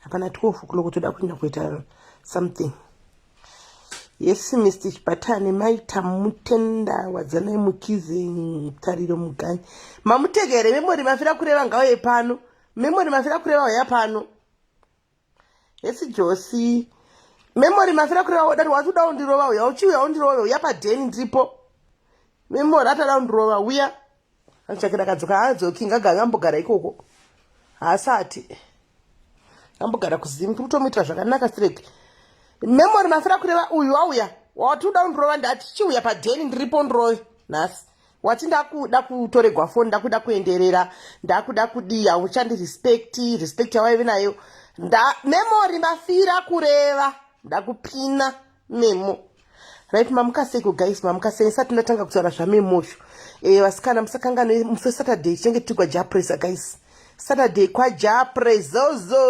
hapana 12 o'clock toda kuenda kuita something yes mr chibatane maita mutenda wadzanai mukizi mutariro muganyi mamutegere memori mafira kureva ngauye pano memori mafira kureva uya pano yes josi memori mafira kureva udati wati uda undirova uya uchiuya undirove uya padheni ndiripo memori atada undirova uya Anotshakira akadzoka haadzoki ngagave ambogara ikoko haasati ambogara kuzimu tiri kutomuitira zvakanaka strek memory mafira kureva uyu wauya wati uda undirova ndati chiuya padheni ndiripo ndirove nhasi wati ndakuda kutoregwa foni ndakuda kuenderera ndakuda kudii hauchandirespecti respect yawaive nayo memory mafira kureva ndakupina memo right mamukaseiko guys mamukaseiko isati ndatanga kutaura zvamemocho e, eh, vasikana musakangane musi wesaturday tinenge tiri kwajapresa guys saturday kwajaprezozo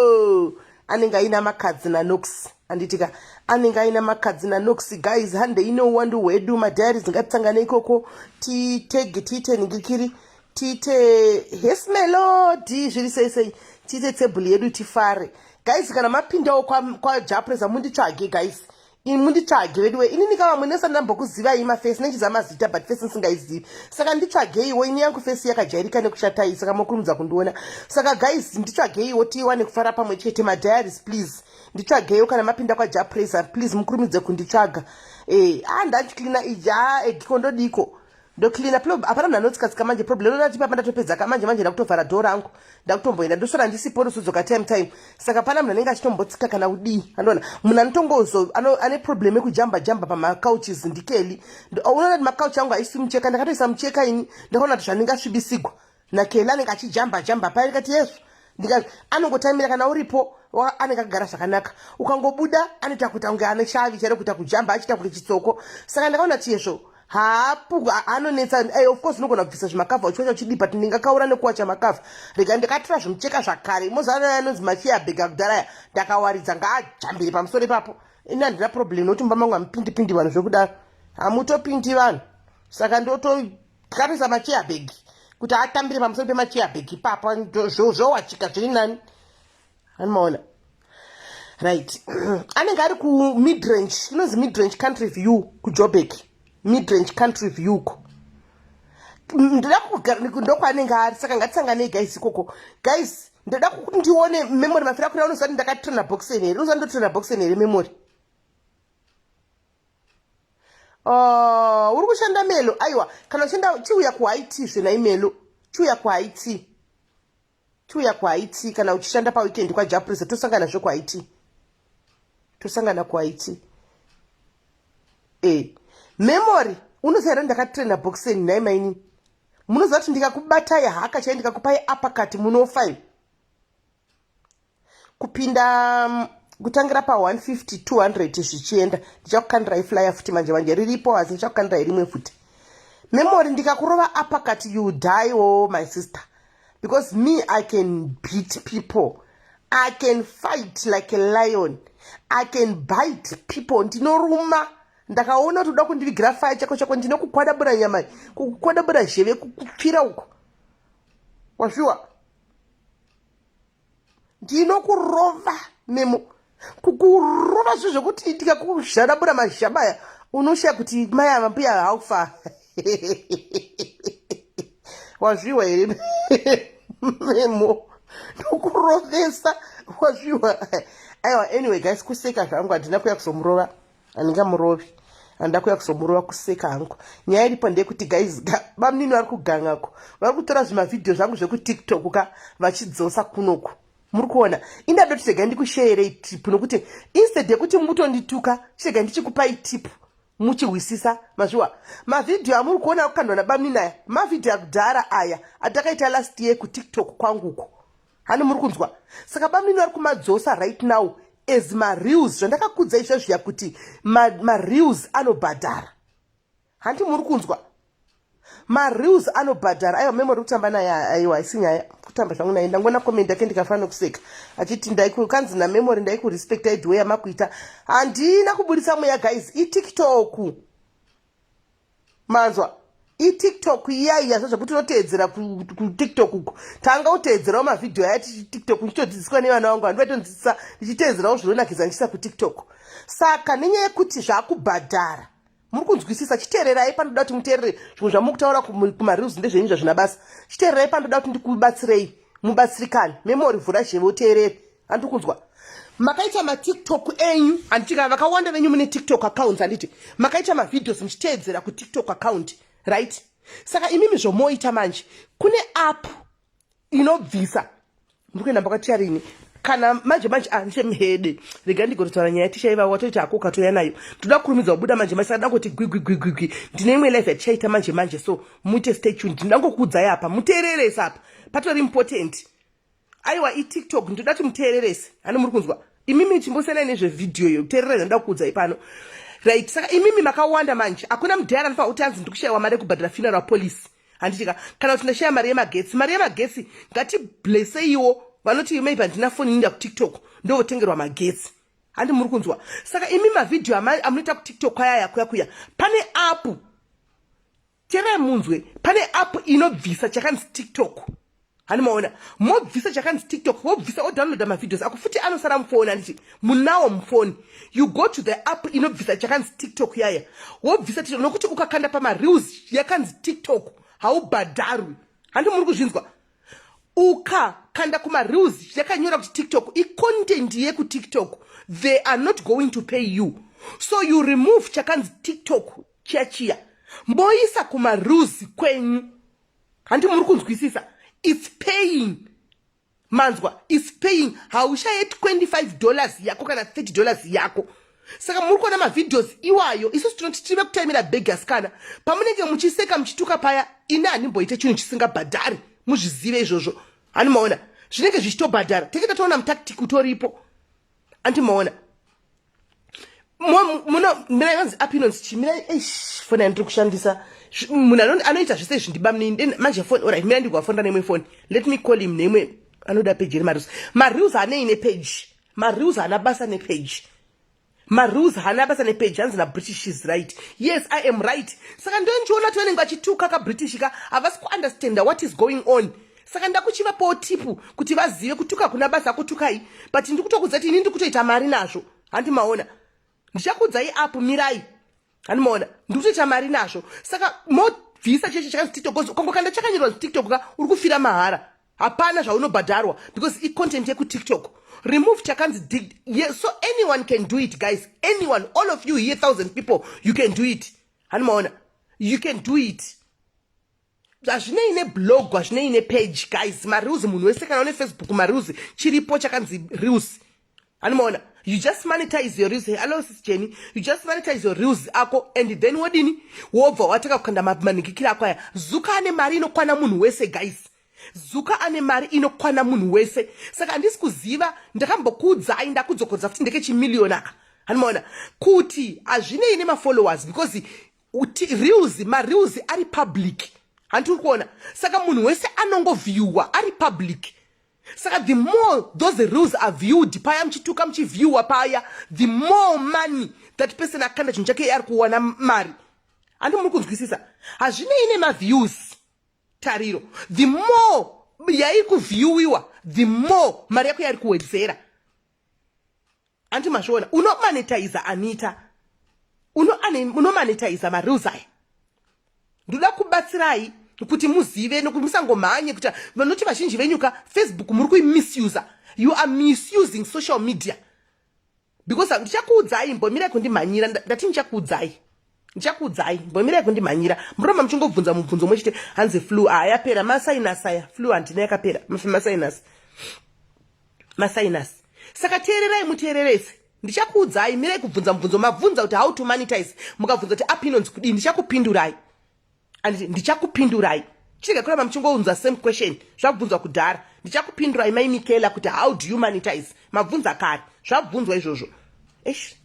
anenge aina makadzi nanox anditika anenge aina makadzi nanox guys hande ine uwandu hwedu madhayari dzingatitangane ikoko titege tiite ningikiri tiite hes melodi zviri sei sei tiite table yedu tifare guys kana mapindawo kwajapresa kwa munditsvage guys ini munditsvage veduwe inini ka vamwe nesati ndambokuzivai mafesi nechiziva mazita but fesi ndisingaizivi saka nditsvageiwo ini yangu fesi yakajairika nekushatai saka mokurumidza kundiona saka guys nditsvageiwo tiwane kufara pamwe chete madiaries please nditsvageiwo kana mapinda kwajapresa please mukurumidze kunditsvaga e eh, a ah, ndachiclina ija egiko ndodiko ndo cleaner plob hapana munhu anotsikatsika manje problem inoda tipa pandatopedza ka manje manje ndakutovhara dhoo rangu ndakutomboenda ndosvara ndisipo ndosodzoka time time saka pana munhu anenge achitombotsika kana kudii andoona munhu anotongozo ane problem yekujamba jamba pamacouches ndikeli unoona kuti macouch angu haisi mucheka ndakatoisa mucheka ini ndakaona kuti zvandingasvibisigwa nakeila anenge achijamba jamba paya ndikati yesu ndikati anongotamira kana uripo anenge akagara zvakanaka ukangobuda anoita kuita kunge ane shavi chairo kuita kujamba achiita kunge chitsoko saka ndakaona kuti yezvo haapu anonetsa ey eh, of course unogona kubvisa zvimakavha uchiwacha uchidipa ti ndingakaura nekuwacha makavha rega ndikatora zvimucheka zvakare mozanaya anonzi machiya bhega kudaraya ndakawaridza ngaajambire pamusoro ipapo ini handina problem nokuti mumba mangu hamupindipindi vanhu zvekudaro hamutopindi vanhu saka ndoto tikatarisa macheabag kuti atambire pamusoro pemacheabag ipapa zvowachika zviri nani anomaona right anenge ari kumidrange inonzi midrange country view kujobek midrange country view ko ndoda ndokwaanenge ari saka ngatisanganei guys ikoko guys ndoda kuti ndione memory mafira kuri unoziva kuti ndakatrena boxen here unoziva ndotrena boxen here memory Ah, uri kushanda melo aiwa kana uchienda chiuya kuhaiti zve nai melo chiuya kuhaiti chiuya kuhaiti kana uchishanda paweekend kwajaprisa tosangana zve kuhaiti tosangana kuhaiti e eh, memory unoziva here ndakatraina boxen nhai maini munoziva kuti ndikakubatai haka chai ndikakupai apakati munofa kupinda mm, kutangira pa 150 200 zvichienda ndichakukandirai flyer futi manje manje riripo asi ndichakukandirai rimwe futi memory ndikakurova apakati you die o oh, my sister because me i can beat people i can fight like a lion i can bite people ndinoruma ndakaona kuti uda kundivigira faya chako chako ndinokukwadabura nyama kukwadabura zheve kukupfira uko wazviwa ndinokurova memo kukurova zvinhu zvekuti ndikakushadabura mazhabaya unoshaya kuti mai ava mbuya haufa wazviwa here memo ndokurovesa wazviwa aiwa anyway guys kuseka zvangu handina kuya kuzomurova handingamurovi handida kuya kuzomurova kuseka hangu nyaya iripo ndeyekuti guys bamunini vari kugangako vari kutora zvimavhidhiyo zvangu zvekutiktok ka vachidzosa kunoku muri kuona indado tichega ndikusheerei tip nokuti instead yekuti mutondituka tichega ndichikupai tip muchihwisisa mazviwa mavhidhiyo amuri kuona akukandwa nabamunini aya mavhidhiyo akudhara aya atakaita last year kutiktok kwanguko hani muri kunzwa saka bamnini vari kumadzosa right now as mareals zvandakakudza izva zviya kuti mareals ma anobhadhara hanti muri kunzwa mareals anobhadhara aiwa memory kutamba naye aiwa haisi nyaya kutamba zvangu naye ndangona comment yake ndikafanira kuseka achiti ndaikanzi namemory ndaikurespect aidwe yamakuita handina kubudisa mweya guys itiktok manzwa itiktok iya iya so zvekuti unoteedzera kutiktok uku tanga uteedzerawo mavhidhiyo aya tichitiktok ndichitodzidziswa nevana vangu vandi vaitondidzidzisa ndichiteedzerawo zvinonakidza ndichiisa kutiktok saka nenyaya yekuti zvakubhadhara muri kunzwisisa chiteererai panoda kuti muteerere zvimwe zvamuri kutaura kumareels ndezvenyu zvazvina basa chiteererai panoda kuti ndikubatsirei mubatsirikani memori vhura zheve uteerere handiri kunzwa makaita matiktok enyu handiti kana vakawanda venyu mune tiktok accounts handiti makaita mavideos muchiteedzera kutiktok account right saka imimi zvomoita manje kune app inobvisa muri kuenda mbakatiya rini kana manje manje handishe ah, muhede rega ndigototaura nyaya tichaiva watoita hako ukatouya nayo ndoda kurumidza kubuda manje manje saka ndangoti gwigwigwigwigwi ndine imwe life yatichaita manje manje so muite stay tuned ndindangokuudzai apa muteereresa apa patori important aiwa itiktok ndoda ti muteererese hano muri kunzwa imimi chimbosenai nezvevhidhiyo iyo kuteerera zvandoda kukuudzai pano right saka imimi makawanda manje hakuna mudhara anofanira kuti anzi ndikushayiwa mari yekubhadhira funeral police handitika kana kuti ndashaya mari yemagetsi mari yemagetsi ngatibleseiwo vanoti maybe handina foni inda kutiktok ndovotengerwa magetsi handi muri kunzwa saka imi mavhidhiyo amunoita kutiktok ayaya kuya kuya pane apu teerai munzwe pane app inobvisa chakanzi tiktok hani maona mobvisa chakanzi tiktok wobvisa odownloada mavideos ako futi anosara mufoni handiti munawo mufoni you go to the app inobvisa chakanzi tiktok yaya wobvisa tiktok nokuti ukakanda pamareels yakanzi tiktok haubhadharwi handi muri kuzvinzwa ukakanda kumareels yakanyora kuti tiktok icontent yekutiktok they are not going to pay you so you remove chakanzi tiktok chiachiya moisa kumaruzi kwenyu handi muri kunzwisisa its paying manzwa its paying haushaye 25 dollars yako kana 30 dollars yako saka muri kuona mavideos iwayo isusu tinoti tive kutaimira bhegi asikana pamunenge muchiseka muchituka paya ini handimboite chinhu chisingabhadhari muzvizive izvozvo hanimaona zvinenge zvichitobhadhara tenge tatoona mutactic utoripo anti maona muna mirai vanzi api inonzi chii mirai eish foni yandiri kushandisa munhu anoita zvese izvi ndibamnini then manje foni orit mirai ndikuvafonda neimwe foni let me call him neimwe anoda peji iri mareels mareels anei nepeji mareels haana basa nepeji mareels haana basa nepeji hanzi nabritish is right yes i am right saka ndondiona tonenge vachituka kabritish ka havasi kuunderstanda what is going on saka ndakuchivapawo tipu kuti vazive kutuka kuna basa kutukai but ndikutokuudza kuti ini ndikutoita mari nazvo handi maona ndichakuudzai apo mirai handi maona ndikutoita mari nazvo saka mobvisa cheche chakanzi tiktok bcause ukangokanda chakanyorwa tiktok ka uri kufira mahara hapana zvaunobhadharwa because icontent yekutiktok remove chakanzi dig yeah, so anyone can do it guys anyone all of you here thousand people you can do it handi maona you can do it hazvinei neblog hazvinei nepage guys mareels munhu wese kana une facebook mareels chiripo chakanzi reels anomaona you just monetize your reels hello sis jenny you just monetize your reels ako and then wodini wobva watanga kukanda manhikikira ako aya zuka ane mari inokwana munhu wese guys zuka ane mari inokwana munhu wese saka handisi kuziva ndakambokuudzai ndakudzokodza futi ndekechimiliyoni aka anomaona kuti hazvinei nemafollowers because uti reels mareels ari public hanti uri kuona saka munhu wese anongovhiyuwa ari public saka the more those reels are viewed paya muchituka muchivhiyuwa paya the more money that person akanda chinhu chake ari kuwana mari handi muri kunzwisisa hazvinei nemaviews tariro the more yairi kuvhiyuwiwa the more mari yako yairi kuwedzera anti mazviona unomanetiza anita unomanetiza mareels aya ndoda kubatsirai kuti muzive nokuti musangomhanye kuti vanoti vazhinji venyuka facebook muri kuimisuser you are misusing social media because ndichakuudzai mbomirai kundimhanyira ndati ndichakuudzai ndichakuudzai mbomirai kundimhanyira muroma muchingobvunza mubvunzo mwechete hanzi flu aa yapera masainasi aya flu handina yakapera masainasi masainasi saka teererai muteererese ndichakuudzai mirai kubvunza mubvunzo mabvunza kuti how to monetize mukabvunza kuti app inonzi kudii ndichakupindurai and ndichakupindurai chinenge kuramba muchingounza same question zvabvunzwa kudhara ndichakupindurai mai mikela kuti how do you monetize mabvunza kare zvabvunzwa izvozvo esh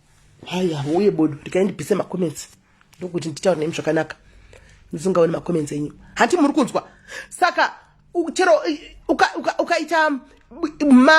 haya uye bodo rikai ndibvise macomments ndokuti nditaure nemi zvakanaka ndisingaoni macomments enyu hanti muri kunzwa saka chero ukaita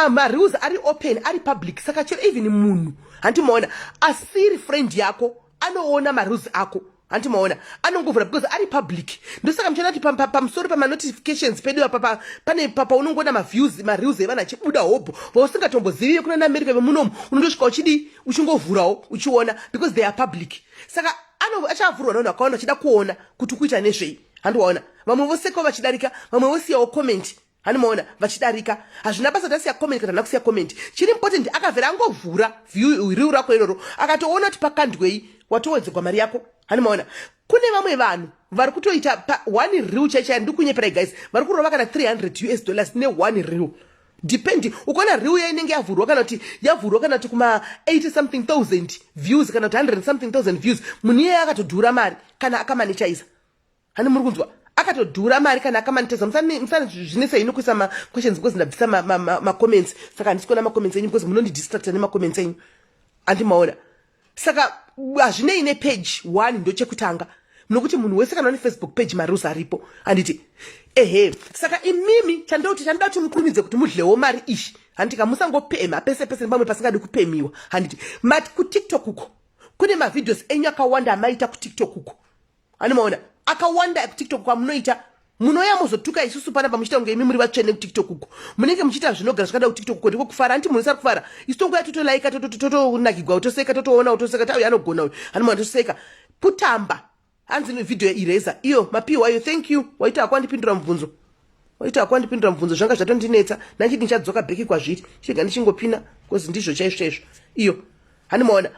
marews ari open ari public saka chero even munhu hanti maona asiri friend yako anoona marules ako hanti maona anongovhura because ari public ndosaka muchiona kuti pamusoro pamanotifications pedu apa pane papa unongoona maviews mareels evana achibuda hobho vausingatombozivi vekuna naamerica vemunomu unondosvika uchidii uchingovhurawo uchiona because they are public saka achavhurwa navanhu vakawanda vachida kuona kuti kuita nezvei handiwaona vamwe vosekawo vachidarika vamwe vosiyawo comment hanimaona vachidarika hazvina basa tasiya comment kana nakusiya comment chiri important akavhera angovhura riu rako iroro akatoona kuti pakandwei watowedzegwa mari yako hanimaona kune vamwe vanhu vari kutoita one riu chaichaya ndikunyeperai guys vari kurova kana 300 us dollars ne one riu depending ukaona riu ya inenge yavhurwa kana kuti yavhurwa kana kuti kuma 80 something thousand views kana kuti 100 something thousand views munhu iyeye akatodhura mari kana akamanechaisa hani muri kunzwa akatodhura mari kana akamaniteza musanizvinesa ini kuisa maquestions because ndabvisa macomments ma, ma, ma saka handisi kuona macomments enyu because munondidistracta nemacomments enyu andimaona saka hazvinei nepage one ndochekutanga nokuti munhu wese kana une facebook page marules aripo handiti ehe saka imimi chandoti chandoda kuti mukurumidze kuti mudlewo mari ishi handiti ka musangopemha pese pese nepamwe pasingadi kupemhiwa handiti mati kutiktok uko kune mavideos enyu akawanda amaita kutiktok uko ani maona akawanda ekutiktok kwamunoita munouya mozotuka isusu pana pamuchiita kunge imi muri vatsvene kutiktok uko munenge muchiita zvinogara zvakada kutiktok uko ndiko kufara anti munhu sari kufara isu tonguya totolaika totonakigwa totoseka totoona totoseka tauya anogona uyu ani maona toseka kutamba hanzi video ireza iyo mapiwa iyo thank you waita hako andipindura mubvunzo waita hako andipindura mubvunzo zvanga zvatondinetsa nanchiti ndichadzoka bheki kwazviri chiga ndichingopina bcause ndizvo chaizvo chaizvo iyo handimaona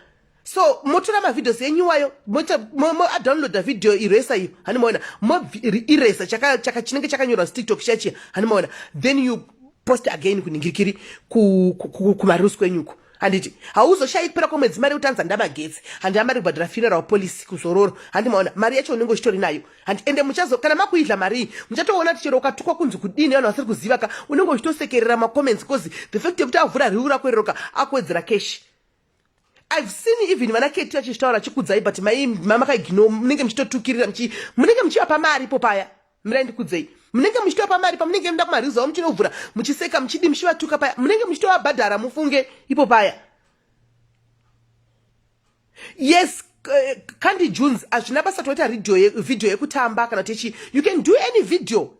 so motora mavideos enyu iwayo moadownloada video iresa iyo hani maona moiresa chinenge chakanyorwa zitiktok chachiya hani maona then you post again kuningirikiri kumarusi kwenyuko handiti hauzoshayi kupera kwemwedzi mari yekutanza ndamagetsi handi amari kubhadhara funeral policy kuzororo handi maona mari yacho unenge uchitori nayo handi ende muchazo kana makuidla marii muchatoona kuti chero ukatukwa kunzi kudini vanhu vasiri kuziva ka unenge uchitosekerera macomments bcause the fact yekuti avhura riu rako iroroka akuwedzera keshi I've seen even vana keti vachitaura chikudzai but mai mama kaigino munenge muchitotukirira muchi munenge muchivapa mari ipo paya mirai ndikudzei munenge muchitovapa mari pamunenge muda kumariza wa muchinovhura muchiseka muchidi muchivatuka paya munenge muchitovabhadhara mufunge ipo paya yes eh, kandi junes hazvina basa toita video yekutamba kana kuti chi you can do any video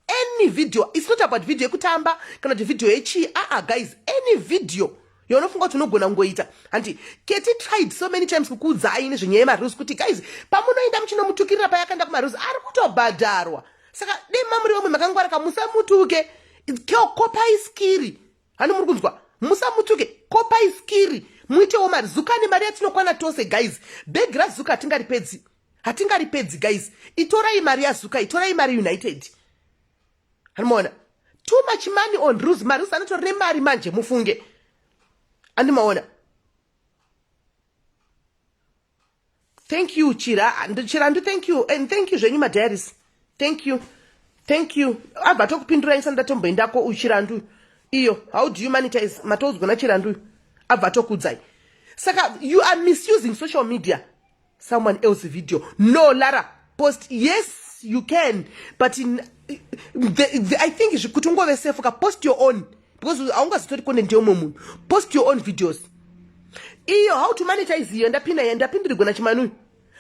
any video its not about video yekutamba kana kuti video yechii aa guys any video yaunofunga kuti unogona kungoita hanti keti tried so many times kukuudzai nezvenyaya yemarus kuti guys pamunoenda muchinomutukirira paya akaenda kumarus ari kutobhadharwa saka dei mamuri vamwe makangwaraka musamutuke kopai skiri hani muri kunzwa musamutuke kopai skiri muitewo mari zuka nemari yatinokwana tose guys bhegi razuka hatingaripedzi hatingaripedzi guys itorai mari yazuka itorai mari united andimaona too much money on ruse mari ruse anotori nemari manje mufunge andimaona thank you chira chirandu thank you and thank you zvenyu madiaris thank you thank you abva tokupindura isa ndatomboendako uyu chirandu iyo how do you monetize matoudzwa nachirandu abva tokudzai saka you are misusing social media someone else video no lara post yes you can but in, the, the, i think kuti ungove safe ka post your own because aungazitori content yeumwe munhu post your own videos iyo how to monetize iyo ndapinda iya ndapindirigona chimanuyu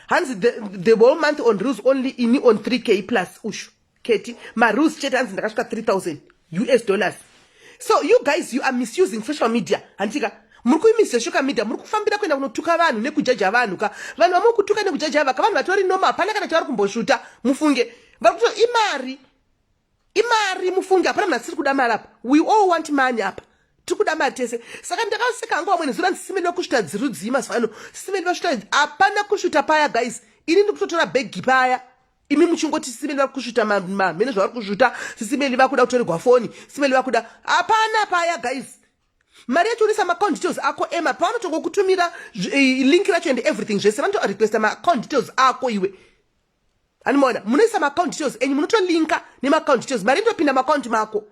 hanzi the, the whole month on rules only ini on 3k plus ushu keti marules chete anzi ndakasvika 3000 us dollars so you guys you are misusing social media handitika muri kuimisa shoka media muri kufambira kuenda kunotuka vanhu nekujaja vanhu ka vanhu vamuri kutuka nekujaja vaka vanhu vatori noma hapana kana chavari kumbosvuta mufunge vari kuto imari imari mufunge hapana munhu asiri kuda mari apa we all want money apa tiri kuda mari tese saka ndakaseka hangu vamwene zura ndisime nekusvuta dzirudzii mazuva ano sime nevasvuta hapana kusvuta paya guys ini ndiri kutotora bhegi paya imi muchingoti simeli vari kusvuta mamhene zvavari kusvuta sisimeli vakuda kutoregwa foni simeli vakuda hapana paya guys mari yacho unisa maacount details ako ema pavanotonga kutumira eh, link racho and everything zvese vanotorequesta maacount details ako iwe animoona munoisa maacount details enyu munotolinka nemaacount details mari inotopinda maacount mako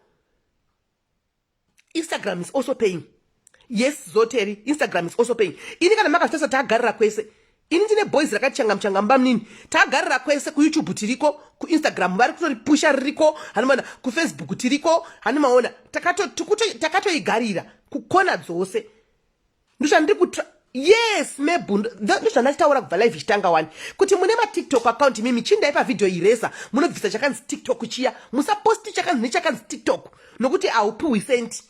instagram is also paying yes zoteri instagram is also paying ini kana makasitasa tagarira kwese ini ndine boys rakachanga muchanga mba munini tagarira kwese kuyoutube tiriko kuinstagram vari kutori pusha ririko hanimaona kufacebook tiriko hanimaona takatoigarira kukona dzose ndozvandiri kutra yes mebhundu ndozvandachitaura kubva live ichitanga wani kuti mune matiktok account imi michindai pavhidhio iresa munobvisa chakanzi tiktok chiya musaposti chakanzi nechakanzi tiktok nokuti haupiwi senti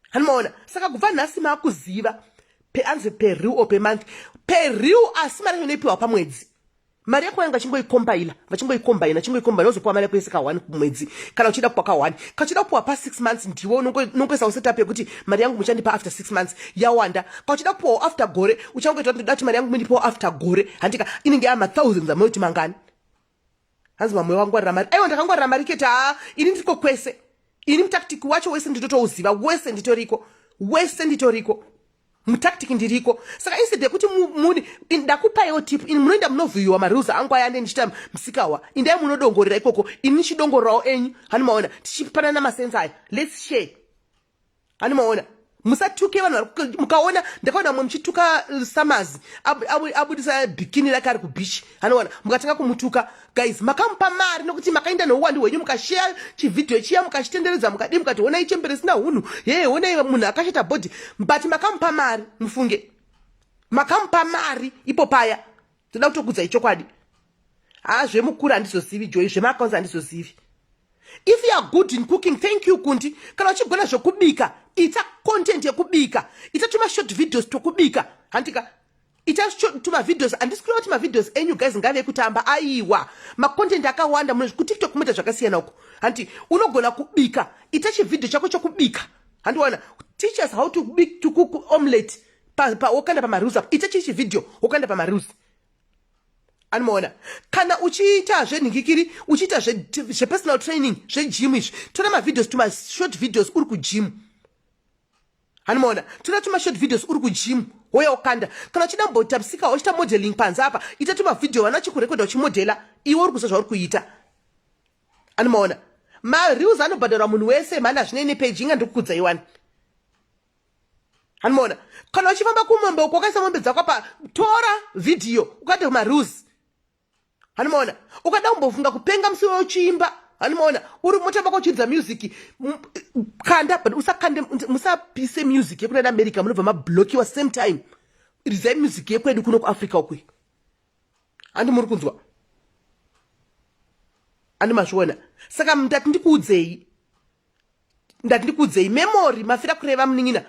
hanimaona saka kubva nhasi maakuziva peanzi periw or pemonth periw asi mari inoipiwa pamwedzi mari yako vanenge vachingoikombaina vachingoikombaina chingoikombaina ozopiwa mari yako yese kahwani kumwedzi kana uchida kupiwa kahwani kachida kupiwa pa six months ndiwe unongoisawo setup yekuti mari yangu muchandipa after six months yawanda kauchida kupiwawo after gore uchangoita kuti ndoda kuti mari yangu mundipawo after gore handika inenge yaa mathousands amoyoti mangani hanzi mamwe wangwarira mari aiwa ndakangwarira mari kete haa ini ndiriko kwese ini mutaktiki wacho wese nditotouziva wese nditoriko wese nditoriko mutactic ndiriko saka instead yekuti muni ndakupaiwo tip ini munoenda munovhiyiwa marules angu aya ande ndichita msikawa indai munodongorera ikoko ini ndichidongorerawo enyu hani maona tichipanana masensa aya lets share hani maona musatuke vanhu mukaona ndakaona mwe muchituka uh, samazi abudisa bikini rake ari kubichi anoona mukatanga kumutuka guys makamupa mari nokuti makaenda nouwandu hwenyu mukasheya chivhidhiyo chiya mukachitenderedza mukadii mukati honai chembere risina hunhu yee honai munhu akashata bhodhi but makamupa mari mufunge makamupa mari ipo paya toda kutokudzai chokwadi haa zvemukuru handizozivi joi zvemaakaunzi handizozivi if you are good in cooking thank you kundi kana uchigona zvekubika ita content yekubika ita tuma short videos twokubika handika ita tumavideos handisi kureva kuti mavideos enyu guys ngave kutamba aiwa macontent akawanda muno kutiktok kumoita zvakasiyana uko hanti unogona kubika ita chivhidhio chako chokubika handiwana teachers how to bik to cook omelette wokanda pamarules apo ita chii chivhidhio wokanda pamarules anomaona kana uchiita zvenhingikiri uchiita zvepersonal training zvegym izvi tora mavideos tumashort videos uri kugym hanimaona tora tuma short videos uri kujimu hoya ukanda kana uchida mbotapsika uchita modeling panze apa ita tuma video vana chikurekodha uchimodela iwe uri kuziva zvauri kuita hanimaona mareels anobhadharwa munhu wese mhani hazvinei nepeji inga ndikukudza iwani hanimaona kana uchifamba kumombe uko wakaisa mombe dzako apa tora video ukati mareels hanimaona ukada kumbofunga kupenga musi wewo chiimba hanimaona uri motamba kochiridza music kanda but usakande musapise music yekuda neamerica munobva mablokiwa same time rizai music yekwedu kuno kuafrica ukwe handi muri kunzwa handi mazviona saka ndati ndikuudzei ndati ndikuudzei memory mafira kureva munin'ina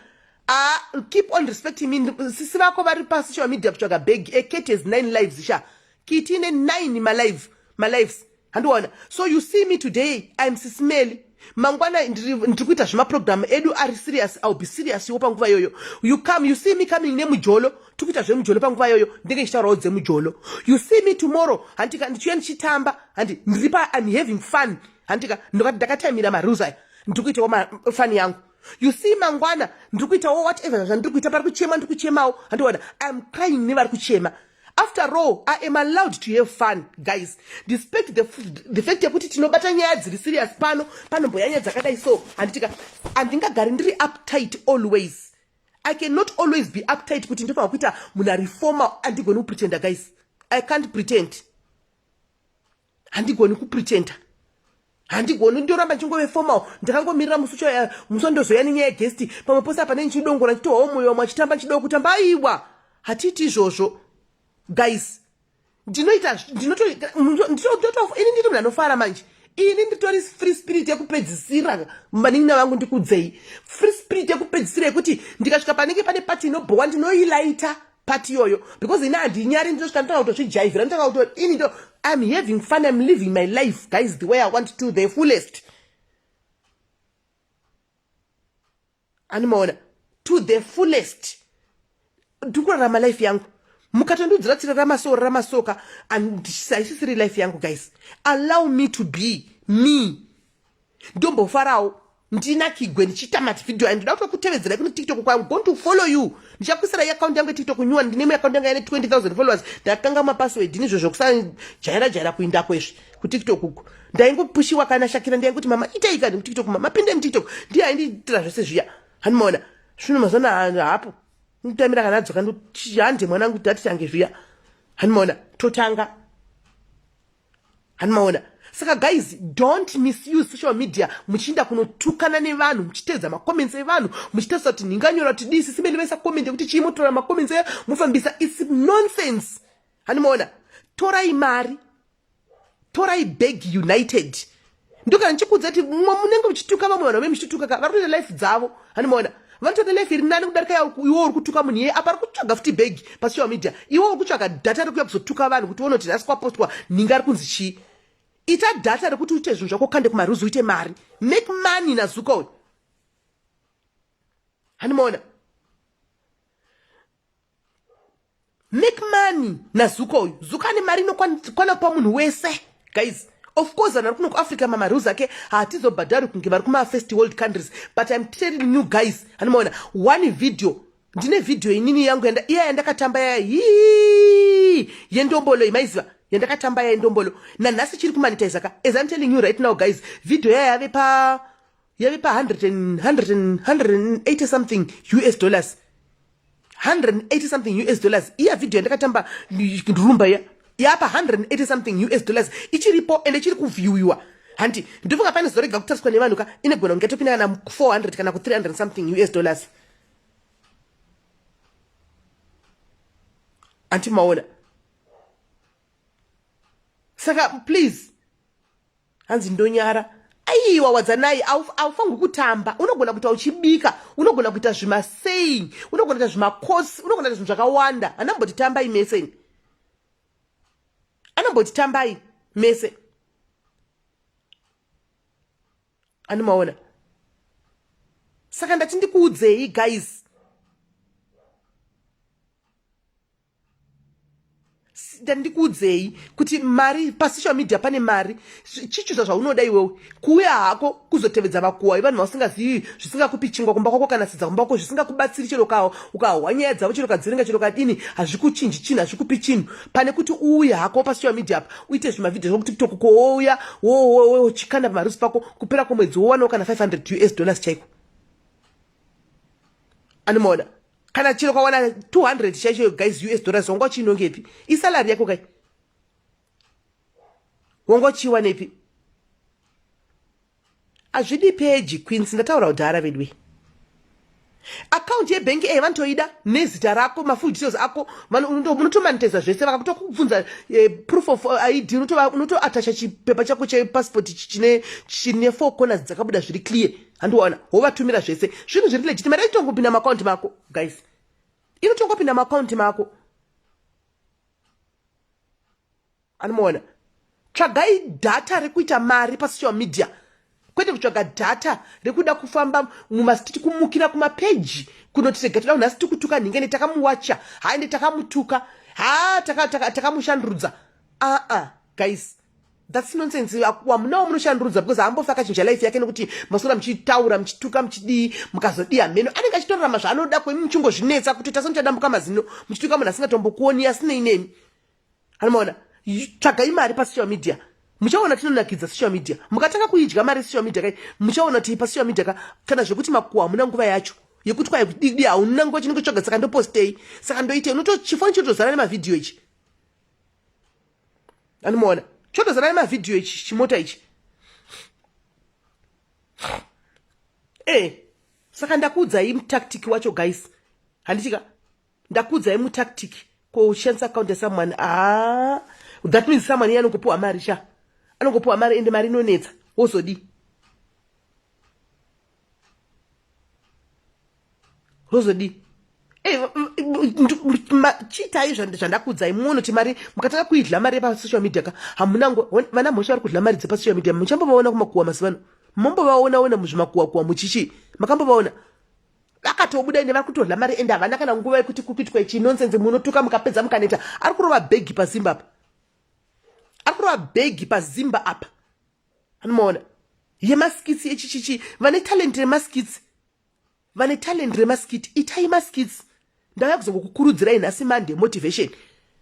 ah, keep on respecting me sisi vako vari pasocial media kutsvaga bag acat has nine lives sha kiti ine nine malive malives handiona so you see me today iam sismeli mangwana ndiri kuita zvemaprogramu edu ari serious ill be serious wo panguva iyoyo you come you see me coming nemujolo tiri kuita zvemujolo panguva iyoyo ndenge ndichitaurawo dzemujolo you see me tomorrow handika ndichiuya ndichitamba handi ndiri pa iam having fun handika ndovati ndakataimira marules aya ndiri kuitawo mafani yangu you see mangwana ndiri kuitawo whatever zvandiri kuita pari kuchema ndiri kuchemawo handiona iam crying nevari kuchema after all i am allowed to have fun guys despite the, the fact yekuti tinobata nyaya dziri serious pano panomboya nyaya dzakadai so handitika handingagari ndiri uptight always i cannot always be uptight kuti ndinofanira kuita munhu arefoma andigoni kupretenda guys i can't pretend handigoni kupretenda handigoni ndoramba chingove formal ndakangomirira musi ucho eh, musi wandozoya nenyaya yegesti pamwe pose apa nei chidongora chitohwawo mwoyo wamwe achitamba chido kutamba aiwa hatiiti izvozvo guys ndinoita ndinotoini ndiri munhu anofara manje ini nditori free spirit yekupedzisira vanin'ina vangu ndikudzei free spirit yekupedzisira yekuti ndikasvika panenge pane pati inobhowa ndinoilaita part iyoyo because ini handinyari nditosvika nditanga kutozvijaivhira nditanga kuto ini ndo iam having fun iam living my life guys the way i want to the fullest animaona to the fullest ndikurarama life yangu mukatondiudzira tsira ramasoo ramasoka haisisiri life yangu guys allow me to be me ndombofarawo ndina kigwe ndichiita mavideo ayo ndoda kuto kutevedzera kune tiktok kwa going to follow you ndichakuisira iaccount yangu yetiktok nyuwa ndine imwe account yanga ine 20000 followers ndakatanga mapassword nezvo zvekusajaira jaira kuindako izvi kutiktok uku ndaingopushiwa kana shakira ndainguti mama itei kani kutiktok mama pinde mutiktok ndiye aindiitira zvese zviya hanimaona zvino mazana hapo ndotamira kana adzoka ndohande mwanangu kuti atichange zviya hanimaona totanga hanimaona saka guys don't misuse social media muchiinda kunotukana nevanhu muchiteedza macomments evanhu muchitarisa kuti ndinganyora kuti dii sisi mene vaisa comment yekuti chii motora macomments eyo mofambisa its nonsense hanimaona torai mari torai bag united ndoka ndichikudza kuti munenge muchituka vamwe vanhu vamene muchituka ka vari kutoita life dzavo hani maona vanotoita life iri nani kudarika yao iwo uri kutuka munhu iye apa ari kutsvaga futi bhegi pasocial media iwo uri kutsvaga data rekuya kuzotuka vanhu kuti wonoti nhasi kwapostwa nhinga ari kunzi chii ita data rekuti uite zvinhu zvako kande kumaruzi uite mari make money nazuka uyu hani maona make money nazuka uyu zuka ane mari inokwana kupa munhu wese guys of course vanhu vari kuno kuafrica mamarules ake hatizobhadhari kunge vari kumafirst world countries but im telling new guys hanimaona one video ndine video inini yangu iya yandakatamba yaya hii yendombolo imaiziva yandakatamba yaya yendombolo nanhasi chiri kumanitize ka as im telling you right now guys video yaya yave pa yave pa 100 100 180 something us dollars 180 something us dollars iya video yandakatamba rumba iya yapa 180 something us dollars ichiripo ende chiri kuvhiwiwa hanti ndofunga pane zorega kutariswa nevanhu ka inegona kunge topinda kana 400 kana ku 300 something us dollars anti maona saka please hanzi ndonyara aiwa wadzanai aufanirwi kutamba unogona kuita uchibika unogona kuita zvimasaying unogona kuita zvimakosi unogona kuita zvinhu zvakawanda anambotitambai mese ini anambotitambai mese anomaona saka ndati ndikuudzei guys ndandikuudzei kuti mari pasocial media pane mari chichuza zvaunoda iwewe kuuya hako kuzotevedza vakuwa ivanhu vausingazivi zvisingakupi chingwa kumba kwako kana sidza kumba kwako zvisingakubatsiri chero kawo ukahwa nyaya dzavo chero kadziringa chero kadini hazvikuchinji chinhu hazvikupi chinhu pane kuti uuye hako pasocial media apa uite zvimavhidhio zvekuti kutoku kouya wochikanda pamarusi pako kupera kwemwedzi wowanawo kana 500 us dollars chaiko anomaona kana chero kwawana 200 chaichoyo guys us dollars wanga uchiinongepi isalari yako kai wanga uchiiwanepi hazvidi peji queens ndataura kudhara vedwe akaunti yebhengi eye vanotoida nezita rako mafull details ako unotomaniteza zvese vakakutokubvunza eh, proof of eh, id unotoatacha chipepa chako chepasipoti chine four corners dzakabuda zviri clear handiona wovatumira zvese zvinhu zviri legiti mari yaitongopinda maakaunti mako guys inotongopinda maakaunti mako anomuona tsvagai dhata rekuita mari pasocial media kwete kutsvaga dhata rekuda kufamba mumastiti kumukira kumapeji kunoti rega toda kunhasi tikutuka nhingene takamuwacha haende takamutuka ha takamushandurudza taka, taka aa ah, ah, guys That's nonsense. Wamunawo munoshandurudza because haambofi akachinja life yake nekuti masora muchitaura muchituka muchidii mukazodii hameno anenge achitorarama zvaanoda kwemi muchingozvinetsa kuti tasa muchadambuka mazino muchituka munhu asingatombokuoni asinei nemi anomaona tsvagai mari pasocial media muchaona tinonakidza social media mukatanga kuidya mari social media kai muchaona kuti pasocial media ka kana zvekuti makuwa hamuna nguva yacho yekuti kwai kudidi hauna nguva chinenge tsvaga saka ndopostei saka ndoitei unotochifoni chotozara nemavhidhiyo ichi animoona chotozarai mavhidhiyo ichi chimota ichi e saka ndakuudzai mutactic wacho guys handitika ndakuudzai mutactic ko uchishandisa akaunti yasamwani a ah, that means samwani iye anongopiwa mari sha anongopiwa mari ende mari inonetsa wozodii rozodii eh, chiitai zvandakuudzai munoti mari mukatanga kuidla mari yepasocial media ka hamunango vana mhosva vari kudla mari dzepasocial media muchambovaona kumakuwa mazivano mombovaonaona muzvimakuwakuwa muchichii makambovaona vakatobuda ende vari kutodla mari ende havana kana nguva yekuti kukuitwa ichi nonsense munotuka mukapedza mukaneta ari kurova bhegi pazimba apa ari kurova bhegi pazimba apa anomaona yemaskitsi echichichi vane talent remaskitsi vane talent remaskit itai maskits ndauya kuzongokukurudzirai nhasi monday motivation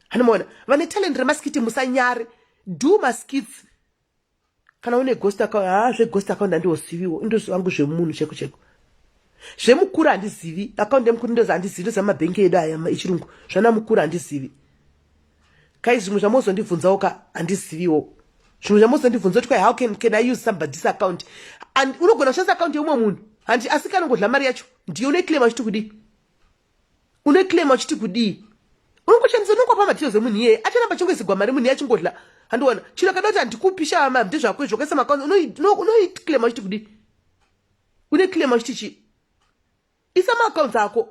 hanomaona vane talent remaskit musanyare do maskits kana une ghost account haa zveghost account handiosiviwo indoziva vangu zvemunhu cheko cheko zvemukuru handizivi account yemukuru ndozi handizivi ndoziva mabhengi edu aya ichirungu zvana mukuru handizivi kai zvimwe zvamozondibvunzawo ka handiziviwo zvimwe zvamozondibvunza kuti kwai how can, can i use somebody's account and unogona kushandisa akaunti yeumwe munhu handi asi kana ngodla mari yacho ndiyo unoiclaima uchiti kudii unoiclaima uchiti kudii unongoshandisa unongopa madetails emunhu iyeye acharamba chingoisigwa mari munhu iye achingodla handiona chino kada kuti handikupi shava mari ndezvako izvo ukaisa maakaunti unoiclaima uchiti kudii unoiclaima uchiti chii isa maaccounts ako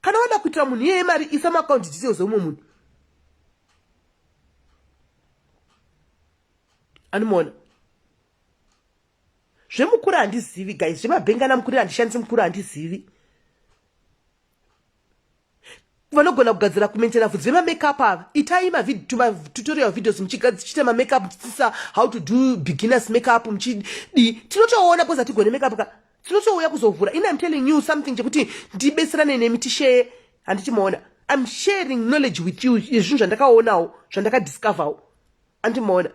kana wada kuitira munhu iyeye mari isa maaccounts details omwe munhu animoona zvemukuru handizivi guys zvemabhengana mukuru handishandisi mukuru handizivi vanogona kugadzira kumentena vhudzi vemamakeup ava itai matutorial videos muchiita mamakeup muchidzidzisa how to do beginners makeup muchidii tinotoona bcause hatigone makeup ka tinotouya kuzovhura in im telling you something chekuti ndibetserane nemi tisheye handiti maona im sharing knowledge with you zvinhu zvandakaonawo zvandakadiscoverwo andimoona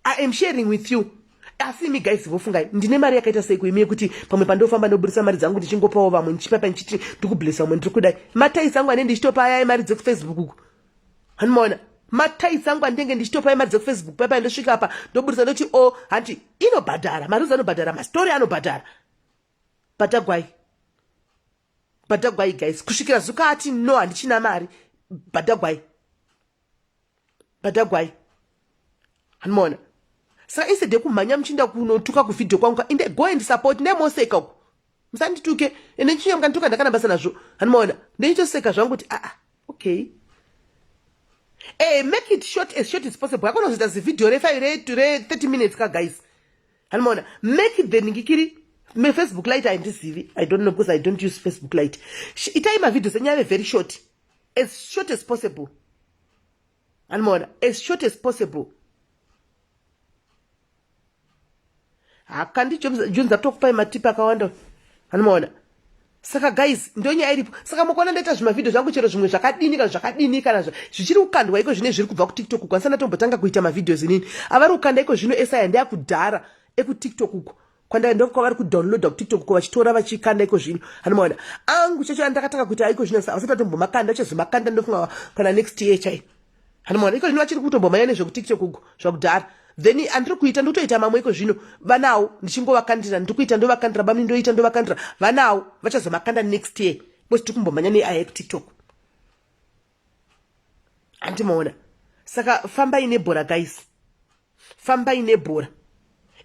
I am sharing with you asi imi guys vofungai ndine mari yakaita seiko imi yekuti pamwe pandofamba ndoburitsa mari dzangu ndichingopawo vamwe ndichipapa ndichiti ndikublesa vamwe ndiri kudai mataisi angu ane ndichitopa ayai mari dzekufacebook uku handimaona mataisi angu andenge ndichitopai mari dzekufacebook paipai ndosvika apa ndoburitsa ndoti o oh, hanti inobhadhara maruzi anobhadhara mastori anobhadhara bhatagwai bhatagwai guys kusvikira zuka ati no handichina mari bhatagwai badhagwai hanimona saka instead yekumhanya muchiinda kunotuka kuvhidhio kwangu ka inde go and support nemoseka uku musandituke ende ndichiuya mukandituka ndakana basa nazvo hanimona ndechitoseka zvangu kuti aa ah, ah, okay e make it short as short as possible akonozoita zivhidhio refive re 30 minutes ka guys hanimona make it the ningikiri me facebook light haindizivi i don't know because i don't use facebook light itai mavhidhios enyaya ve very short as short as possible animoona as short as possible hakandi june zatokupai matipi akawanda animoona saka guys ndonyaya iripo saka mukuona ndaita zvimavhidhio zvangu chero zvimwe zvakadini kana zvakadini kana zvichiri kukandwa iko zvine zviri kubva kutiktok uko andisana tombotanga kuita mavhidhios inini avari kukanda iko zvino esaya ndeakudhara ekutiktok uko kwandai ndokwavari kudownloada kutiktok ko vachitora vachikanda iko zvino hanomaona angu chacho andakatanga kuita iko zvino sa vasati atombomakanda achazomakanda ndofunga kana next year chai hanomaona iko zvino vachiri kutombomanya nezvekutiktok ugo zvakudhara then andiri kuita ndotoita mamwe iko zvino vanawo ndichingovakandira ndiri kuita ndovakandira bamni ndoita ndovakandira vanawo vachazomakanda next year bcause tiri kumbomhanya neaya ekutiktok hanti maona saka fambai nebhora guys fambai nebhora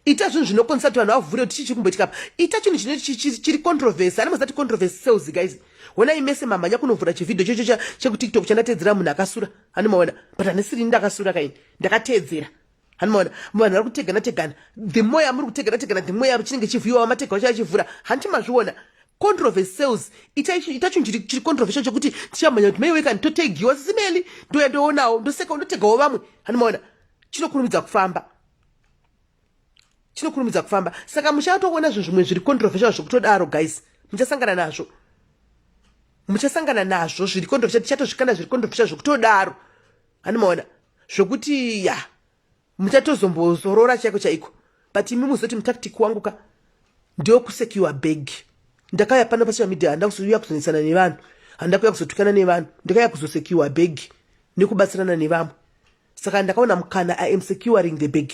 ita zvinhu zvinokonzesa kuti vanhu vavhure kuti chii chiri kumboitika pa ita chinhu chine chiri controversy ani mazati controversy sales guys honai mese mamhanya kunovhura chivhidhio chocho chekutiktok chandateedzera munhu akasura ani maona but hanisiri ndakasura kaini ndakateedzera hanimaona vanhu vari kutegana tegana the more yamuri kutegana tegana the more yachinenge chivhuyiwa vamatega vacho achivhura hanti mazviona controversy sales itacho ndiri chiri controversy chekuti tichamhanya kuti maiwe kani totegiwa sisi meli ndoya ndoonawo ndoseka ndotegawo vamwe hanimaona chinokurumidza kufamba chinokurumidza kufamba saka muchatoona zvinhu zvimwe zviri controversy zvekutodaro guys muchasangana nazvo muchasangana nazvo zviri controversy tichatozvikanda zviri controversy zvekutodaro hanimaona zvokuti ya muchatozombozorora chaiko chaiko but imi muzoti mutactic wangu ka ndewo kusecure bag ndakauya pano pasocial media handa kuzouya kuzonetsana nevanhu handa kuya kuzotukana nevanhu ndakauya kuzosecure bag nekubatsirana nevamwe saka ndakaona mukana i am securing the bag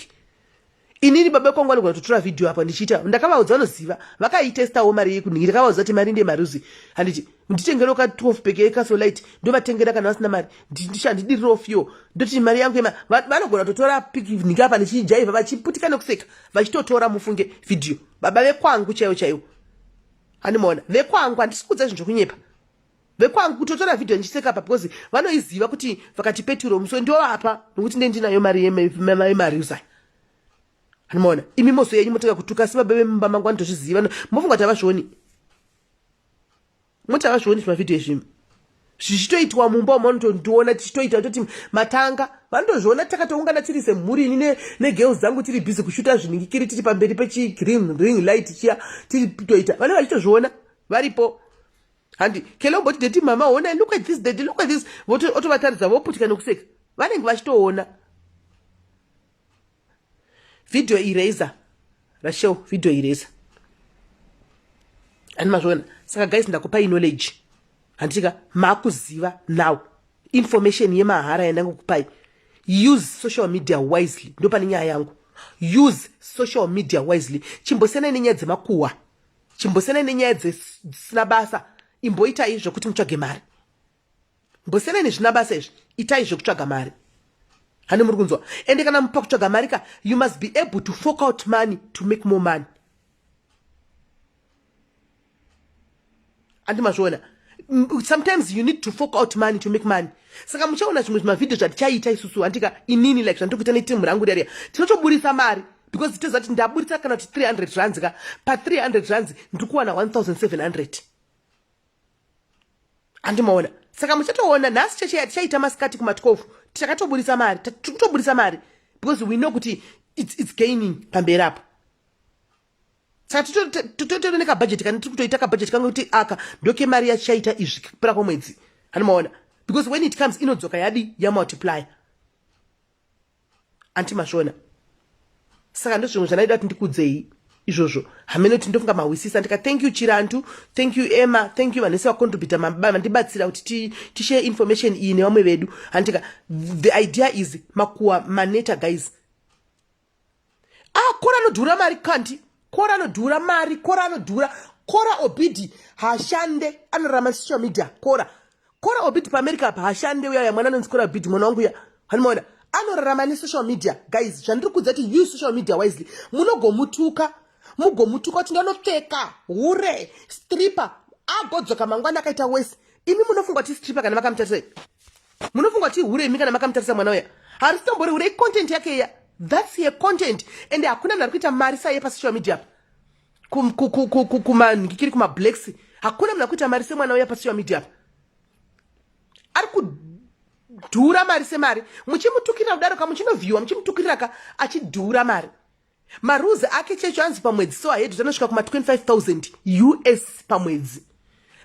inini baba kwangu anogona kutotora vhidhiyo apa ndichiita ndakavaudza vanoziva vakaitestawo mari yekuningi ndakavaudza kuti mari ndemaruzi handiti nditengere ka 12 peke yekasolite ndovatengera kana vasina mari ndishandidiriro fyo ndoti mari yangu ema vanogona kutotora piningi apa ndichijaivha vachiputika nekuseka vachitotora mufunge vhidhiyo baba vekwangu chaivo chaivo handimaona vekwangu handisi kuudza zvinhu zvekunyepa vekwangu kutotora vhidhiyo ndichiseka pa because vanoiziva kuti vakati peturo muswe ndovapa nokuti nde ndinayo mari yemari usa anomaona imi moso yenyu motanga kutuka asi baba vemumba mangu vanotozviziva mofunga kuti havazvioni moti havazvioni zvimavhidhiyo izvi zvichitoitwa mumba umo vanotondiona tichitoita toti matanga vanotozviona takatoungana tiri semhuri ini negirls dzangu tiri busy kushuta zviningikiri tiri pamberi pechigreen ring light chiya tiri kutoita vane vachitozviona varipo handi kele umboti deti mama honai look at this deti look at this otovataridza voputya nekuseka vanenge vachitoona video eraser rashel video eraser ani mazviona saka guys ndakupai knowledge handitika makuziva now information yemahara yandangokupai use social media wisely ndopane nyaya yangu use social media wisely chimbosenai nenyaya dzemakuhwa chimbosenai nenyaya dzisina basa imboitai zvekuti mutsvage mari mbosenai nezvina basa izvi itai zvekutsvaga mari hani muri kunzwa ende kana mupa kutsvaga mari ka you must be able to fork out money to make more money andi mazviona sometimes you need to fork out money to make money saka muchaona zvimwe zvimavhidhio zvatichaita isusu handika inini like zvandiri kuita netimu rangu riariya tinotoburitsa mari because titoziva kuti ndaburitsa kana kuti 300 rands ka pa 300 rands ndiri kuwana 1700 handimaona saka muchatoona nhasi cheche yatichaita masikati kuma 12 tichakatoburitsa mari tiri kutoburitsa mari because we know kuti it's, it's gaining pamberi apo saka titotori nekabhajeti kani tiri kutoita kabhajeti kange kuti aka ndokemari yachichaita izvi kupera kwemwedzi hani maona because when it comes inodzoka yadi yamultiplier anti mashona saka ndozvimwe zvandaida kuti ndikudzei izvozvo hameno kuti ndofunga mahwisisa ndika thank you chirantu thank you emma thank you vanese vacontributa vandibatsira kuti tishare information iyi nevamwe vedu handika the idea is makuwa maneta guys ah kora anodhura mari kanti kora anodhura mari kora anodhura kora obidi hashande anorama social media kora kora obidi paamerica apa hashande uyaya mwana anonzi kora obidi mwana wangu uya hanimaona anorarama nesocial media guys zvandiri kudza kuti you social media wisely munogomutuka mugomutuka kuti ndanopfeka hure stripper agodzoka mangwana akaita wese imi munofunga kuti stripper kana vakamutarisa munofunga kuti ihure imi kana makamutarisa mwana uya harisitombouri hure icontent yake iya thats ye content ende hakuna munhu ari kuita mari saiye pasocial media apa kumanhikiri kumablacks hakuna munhu ari kuita mari semwana uya pasocial media apa ari kudhura mari semari muchimutukirira kudaro ka muchinovhiwa muchimutukiriraka achidhura mari marules ake checho anzi pamwedzi so ahead tanosvika kuma 25000 us pamwedzi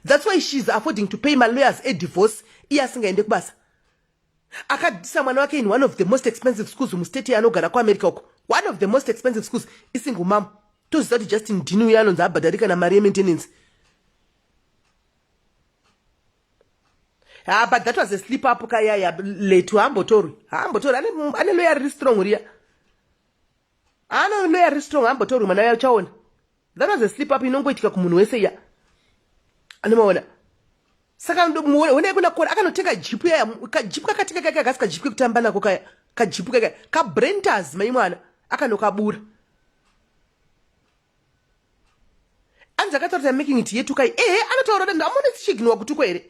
thats why she is affording to pay malawyers edivorce iye asingaende kubasa akadisa mwana wake in one of the most expensive schools mustate yaanogara kuamerica uko one of the most expensive schools isingle mam toziva kuti justin dini uye anonzi abhadharika namari yemaintenance ha ah, but that was a slip up kayaya letu haambotorwi haambotorwi ane loya riri strong riya Ano no ari strong ambotorwi mwana ya chaona. That was a slip up inongoitika kumunhu wese ya. Anomaona. Saka ndo muone wena kuna kora akanotenga jipu ya ka jipu kakatenga kaka kasika jipu kutamba nako kaya. Ka jipu kaka ka brenters mai mwana akanokabura. Anza akataura making it yetu kai. Eh anotaura kuti amone chiginwa kutuko here.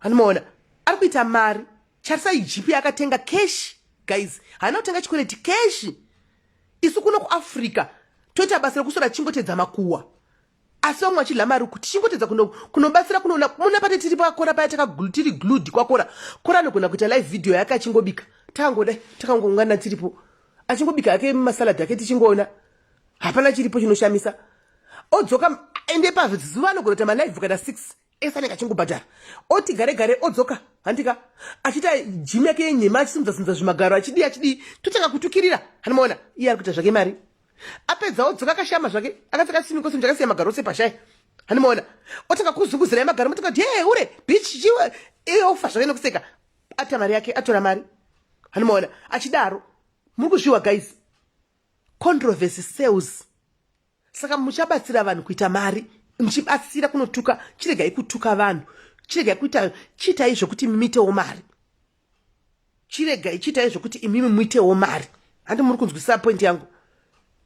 anomaona ari kuita mari charisai jipi yakatenga keshi guys haana kutenga chikwereti keshi isu kuno kuafrica toita basa rekusora chingotedza makuwa asi vamwe vachidla mari kuti chingotedza kunobatsira kunoona muna pate tiri pakora paya takatiri glud kwakora kora anogona kuita live video yake achingobika takangodai takangoungana tiripo achingobika yake masalad ake tichingoona hapana chiripo chinoshamisa odzoka ende pazuva anogona kuita malive kana six ese anenge achingobhadhara oti gare gare odzoka handika achiita jimu yake yenhema achisimudza simudza zvimagaro achidii achidii totanga kutukirira hanimaona iye ari kuita zvake mari apedza odzoka akashama zvake akapfeka sini kosini chakasiya magaro ose pashai hanimaona otanga kuzunguzira magaro motoka kuti hee hure bichi chiwe iye ofa zvake nokuseka ata mari yake atora mari hanimaona achidaro muri kuzviwa guys controversy sales saka muchabatsira vanhu kuita mari muchibatsira kunotuka chiregai kutuka vanhu chiregai kuita chiitai zvekuti muitewo mari chiregai chiitai zvekuti imimi muitewo mari handi muri kunzwisisa point yangu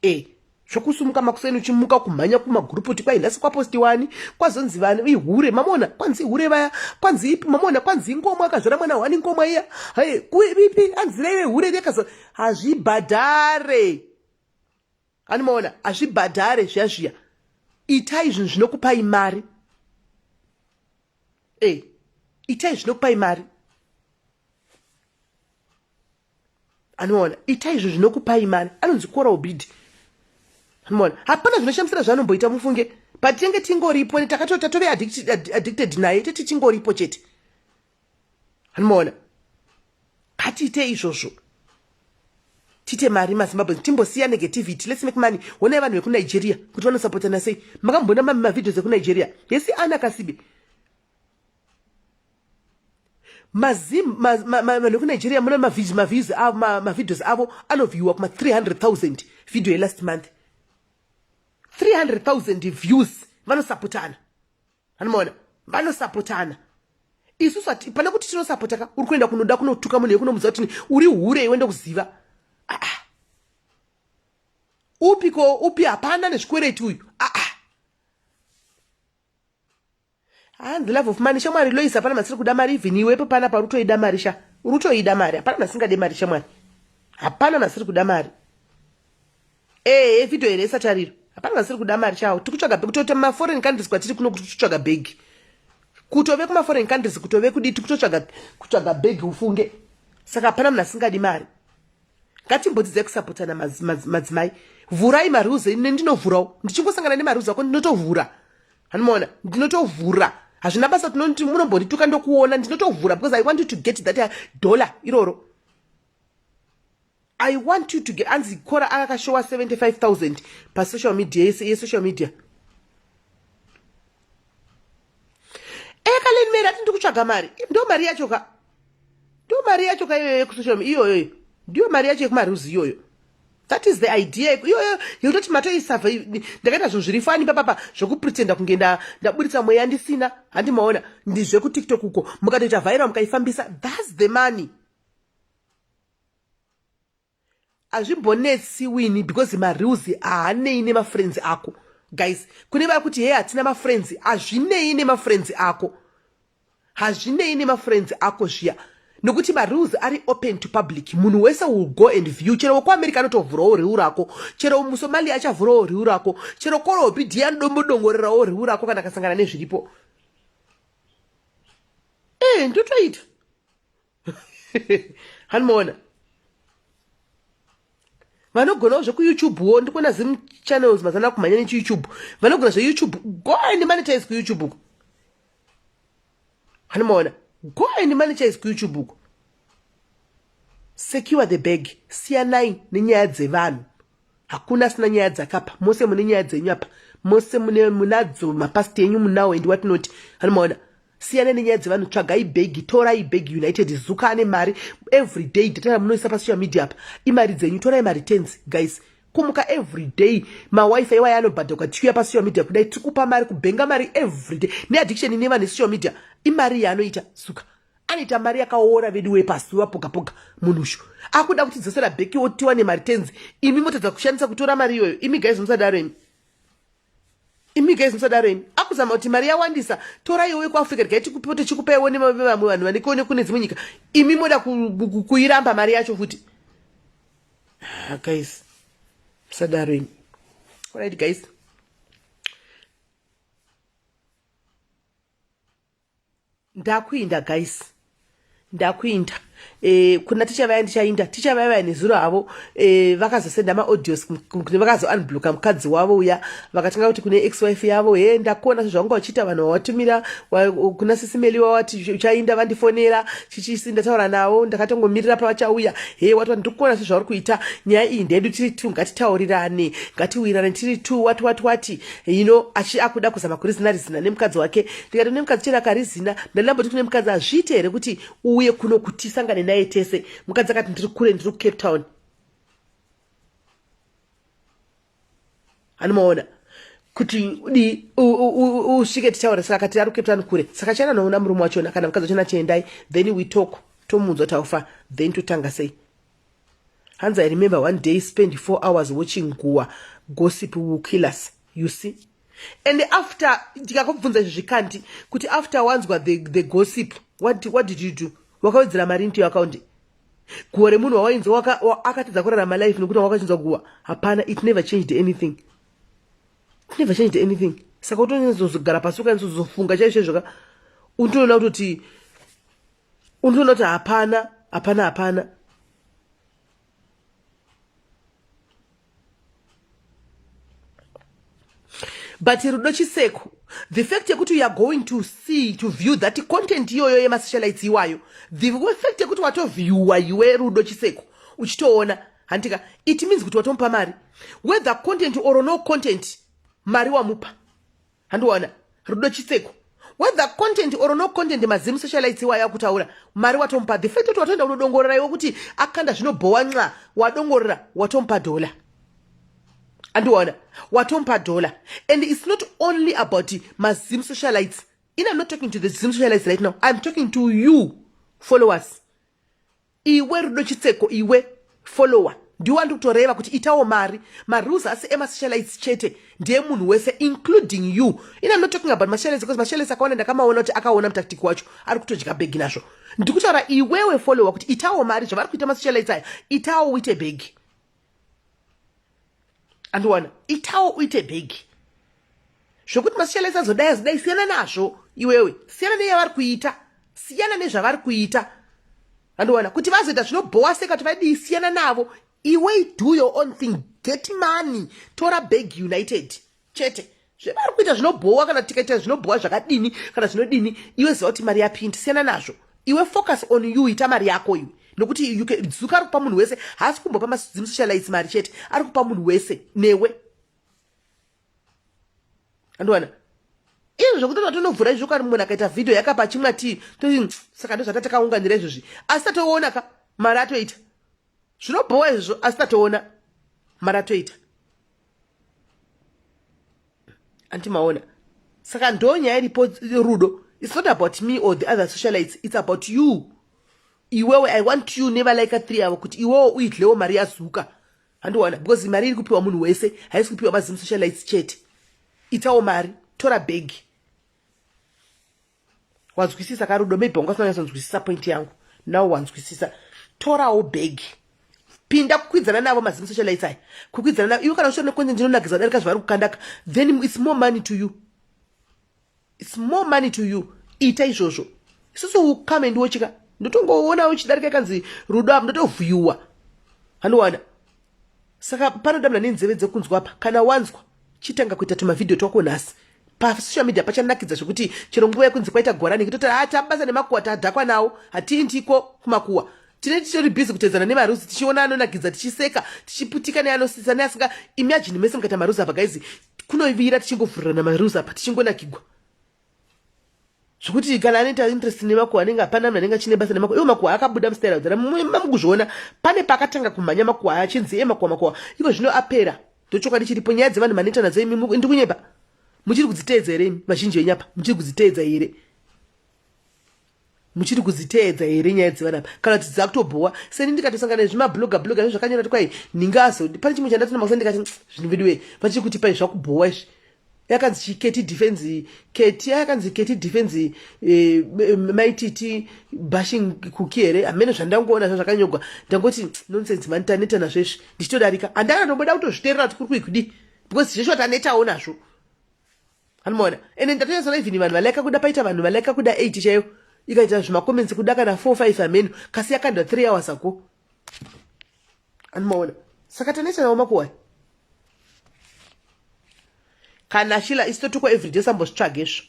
e zvokusumuka makuseni uchimuka kumhanya kumagurupoti kwai nhasi kwaposti wani kwazonzi vani ihure mamona kwanzi ihure vaya kwanzi ipi mamona kwanzi ingomwa akazvara mwana wani ingomwa iya hai kuipi anzira ive hure rekazo hazvibhadhare kani maona hazvibhadhare zviya zviya itai zvinhu zvinokupai mari e eh, itai zvinokupai mari anoona itai zvinhu zvinokupai mari anonzi kora obidi anoona hapana zvinoshamisira zvaanomboita mufunge but tenge tingoripo ne takatota tove addicted naye tete tingoripo chete anomaona hatiite izvozvo tiite mari mazimbabwe timbosiya negativity lets make money honai vanhu vekunigeria kuti vanosapotana sei makamboona mami mavideos ekunigeria hesi ana kasibe mazim vanhu vekunigeria muna maviews avo mavideos avo anovhiiwa kuma 300 000 video yelast month 300 000 views vanosapotana anomaona vanosapotana isu sati pane kuti tinosapota ka uri kuenda kunoda kunotuka munhu yekunomuziva kuti uri hure iwe ndokuziva aa ah, ah. upi ko upi hapana nezvikwereti uyu aa ah, and the love of money shamwari lois hapana masiri kuda mari even iwepo pana pauri utoida mari sha uri utoida mari hapana masingade mari shamwari hapana masiri kuda mari Ehe video here yesatariro. Hapana vasiri kuda mari chawo. Tikutsvaga bhegi kutoita ma foreign countries kwatiri kuno kuti titsvaga bhegi. Kutove kuma foreign countries kutove kudi tikutotsvaga kutsvaga bhegi ufunge. Saka hapana munhu asingadi mari. Ngatimbodzidza kusapotana madzimai. Vhurai marules ine ndinovhurawo. Ndichingosangana nemarules ako ndinotovhura. Hanimona ndinotovhura. Hazvina basa tinoti munombondituka ndokuona ndinotovhura because I want you to get that dollar iroro. i want you to get anzi kora akakashowa 75000 pasocial media yese yesocial media ekaleni meri ati ndikutsvaga mari ndo mari yacho ka ndo mari yacho ka iyoyo yekusocial media iyoyoyo ndiyo mari yacho yekumaruzi iyoyo that is the idea iyoyo yekutoti matoisava ndakaita zvinhu zviri fani papapa zvekupretenda kunge ndaburitsa mweya ndisina handi maona ndizvekutiktok uko mukatoita viral mukaifambisa thats the money hazvimbonetsi wini because mareals haanei nemafriends ako guys kune vari kuti hee hatina mafriends hazvinei nemafriends ako hazvinei nemafriends ako zviya nokuti mareals ari open to public munhu wese will go and view chero wekuamerica anotovhurawo reu rako chero musomalia achavhurawo reu rako chero korobi di anodombodongorerawo reu rako kana akasangana nezviripo ee eh, ndotoita hanimoona vanogonawo zvekuyoutube wo ndikuona zim channels mazana kumhanya nechiyoutube vanogona zveyoutube go and monetize kuyoutube uko hanimoona go and monetize kuyoutube uko secure the bag siyanai nenyaya dzevanhu hakuna asina nyaya dzakapa mose mune nyaya dzenyu apa mose mune munadzo mapasiti enyu munawo endi watinoti anomaona siyana nenyaya dzevanhu tsvagai bhegi torai bhegi united zuka ane mari every day data ramunoisa pasocial media apa imari dzenyu torai mari tens guys kumuka everyday mawifi iwayo anobhadhakwa tichiuya pasocial media kudai tikupa mari kubhenga mari everyday neaddiction ine vanhu esocial media imari yaanoita suka anoita mari yakaora vedu wepasi wapogapoga munhu ushu akuda kuti dzosera bheki otiwa nemari tenzi imi motadza kushandisa kutora mari iyoyo imi gaizi musadaro imi imi gaizi musadaro imi akuzama kuti mari yawandisa torai uye kuafrica tigai tikupiwo tichikupaiwo nevamwe vanhu vanekone kune dzimwe nyika imi moda kuiramba mari yacho futi ah, guys musadaro imi orit guys ndakuinda guys ndakuinda e, kuna ticha vaya ndichainda ticha vaya vaya nezuro havo e, vakazosenda maaudios vakazounbloka mukadzi wavo uya vakatanga kuti kune ex wife yavo he ndakuona sezvavanga vachiita vanhu vawatumira wa, kuna sisimeli wawati uchainda vandifonera chichisi ndataura navo ndakatongomirira pavachauya he wati vanhu ndikuona sezvauri kuita nyaya iyi ndedu tiri two ngatitaurirane ngatiwirane tiri two wati wati wati ino achi akuda kuzama kurizina rizina nemukadzi wake ndikati kune mukadzi chero akarizina ndanambo ti kune mukadzi hazviite here kuti uye kuno kuti sangane naye tese mukadzi akati ndiri kure ndiri kucape town anomaona kuti di usvike titaure saka akati ari kucape town kure saka chana noona murume wachona kana mukadzi wachona chiendai then we talk tomuudzwa taufa then totanga sei hanzi i remember one day spend four hours watching guwa gossip will kill us you see and after ndikakubvunza izvi zvikanti kuti after wanzwa the, the gossip what, what did you do wakawedzera mari into yoaccount guwa remunhu wawainzwa akatadza kurarama life nekuti wakachinzwa guwa hapana it never changed anything it never changed anything saka utonyatsozogara pasi ukanyatsozozfunga chaizvo izvoka unotoona kutoti unotoona kuti hapana hapana hapana but rudo chiseko the fact yekuti youare going to see to view that content iyoyo yemasocialites iwayo the fact yekuti watovhiewa iwe rudo chiseko uchitoona handitika it means kuti watomupa mari whether content or no content mari wamupa handiwana rudo chitseko whether content or no content mazimu socialites iwayo akutaura mari watomupa the fact kuti watoenda unodongorera iwe kuti akanda zvinobhowa nxa wadongorera watomupa dhola andiona watomupa dhola and its not only about mazimu socialites in am not talking to the zimu socialites right now iam talking to you followers iwe rudo chitseko iwe follower ndiwo andiri kutoreva kuti itawo mari marules asi emasocialites chete ndiye munhu wese including you in am not talking about masocialites because masocialites akawanda ndakamaona kuti akaona mutactic wacho ari kutodya bhegi nazvo ndikutaura iwewe follower kuti itawo mari zvavari kuita masocialites aya itawo uite bhegi andiwana itawo uite bhegi zvekuti masishalesi azodai azodai siyana nazvo iwewe siyana neyavari kuita siyana nezvavari kuita andiwana kuti vazoita zvinobhowa seka kuti vadii siyana navo iwe do your own thing get money tora bhegi united chete zvevari kuita zvinobhowa kana tikaita zvinobhowa zvakadini kana zvinodini iwe ziva kuti mari yapindi siyana nazvo iwe focus on you ita mari yako iwe nokuti zuka ari kupa munhu wese haasi kumbopa mazimusocialites mari chete ari kupa munhu wese newe andiwana izvo zvekuti tatonobvura izvo kani munhu akaita vhidhio yakapa chimwe atii saka ndozvatatakaunganira izvozvi asi tatoona ka mari atoita zvinobhowa izvozvo asi tatoona mari atoita anti maona saka ndo nyaya iripo rudo its not about me or the other socialites its about you iwewe i want you nevalaika three avo kuti iwewo uidlewo mari yazuka handiwana because mari iri kupiwa munhu wese haisi kupiwa mazim socialites chete itawo mari tora bhegi wanzwisisa ka rudo maybe wanga usina kunyatsonzwisisa point yangu now wanzwisisa torawo bhegi pinda kukwidzana navo mazim social lights aya kukwidzana navo iwe kana uchiona kwenze ndinonakidza kudarika zvavari kukandaka then its more money to you its more money to you ita izvozvo isusu ukame ndiwochika ndotongoona uchidarika ikanzi rudo apo ndotovhuyuwa handiwana saka panoda mna nenzeve dzekunzwa apa kana wanzwa chitanga kuita tumavhidhiyo twako nhasi pasocial media pachanakidza zvekuti chero nguva yekunzi kwaita gorani kitoti ha ah, tabasa nemakuwa tadhakwa nawo hatiindiko kumakuwa tine titori busy kutedzana nemaruzi tichiona anonakidza tichiseka tichiputika neanosisa neasinga imagine mese mukaita maruzi apa gaizi kunovira tichingovhurira namaruzi apa tichingonakigwa zvekuti kana anoita interest nemakuwa anenge hapana munhu anenge achine basa nemakuwa iwo makuwa akabuda mustaira udzara mamukuzviona pane paakatanga kumhanya makuwa aya achinzi e makuwa makuwa iko zvino apera ndochokwadi chiripo nyaya dzevanhu manoita nadzo imi ndi kunyepa muchiri kudziteedza here imi vazhinji venyapa muchiri kudziteedza here muchiri kudziteedza here nyaya dzevana apa kana kuti dzakutobhowa seni ndikatosangana nezvimabloga bloga izvo zvakanyora kuti kwai ninge azodi pane chimwe chandati namakusai ndikati mm, zvinhu vedu wee vachiri kuti pai zvakubhowa izvi yakanzi chiketi defense keti yakanzi keti defense eh, maititi bashing kuki here hamene zvandangoona zva zvakanyogwa ndangoti nonsense mani taneta nazvo izvi ndichitodarika handana ndoboda kutozviterera kuti kuri kuikudii because zveshuwa tanetawo nazvo anomaona ende ndatonyasana even vanhu valaika kuda paita vanhu valaika kuda 8 chaiyo ikaita zvimacomments kuda kana 4 5 ameno kasi yakandwa 3 hours ako anomaona saka tanetsanawo makuwai kana shila isi totukwa everyday sambozvitsvaga izvo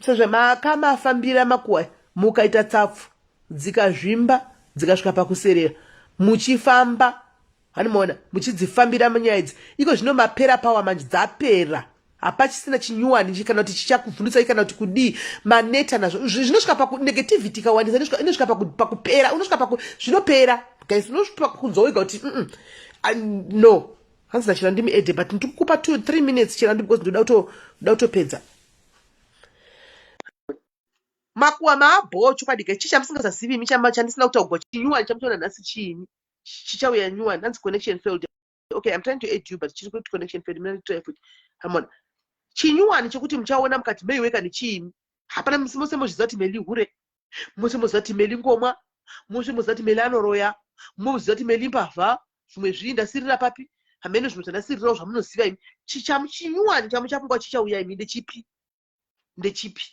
sezvemakama afambira makuwai mukaita tsapfu dzikazvimba dzikasvika pakuserera muchifamba hanimoona muchidzifambira munyaya idzi iko zvino mapera pawa manje dzapera hapachisina chinyuwani kana kuti chichakuvhundutsai kana kuti kudii maneta nazvo zvinosvika pakunegativity ikawandisa inosvika pakupera unosvika paku zvinopera guys unosvika pakunzwa wega kuti no hanzi nachira ndimi ede but ndikukupa two three minutes chira ndi because ndoda kutopedza makuwa maabhoo chokwadi guys chii chamusingazazivi imi chandisina kutaugwa chinyuwani chamutoona nhasi chiini chichauya nyuwani hanzi connection failed okay i'm trying to aid you but chiri kuti connection failed mna try futi hamona chinyuwani chekuti muchaona mukati meiweka nechiimi hapana misi mose mozviziva kuti meli hure mose moziva kuti meli ngomwa mose moziva kuti meli anoroya moziva kuti meli mbavha zvimwe zvii ndasirira papi hamene zvimwe zvandasirirawo zvamunoziva imi chichamu chinyuwani chamuchafunga chichauya imi ndechipi ndechipi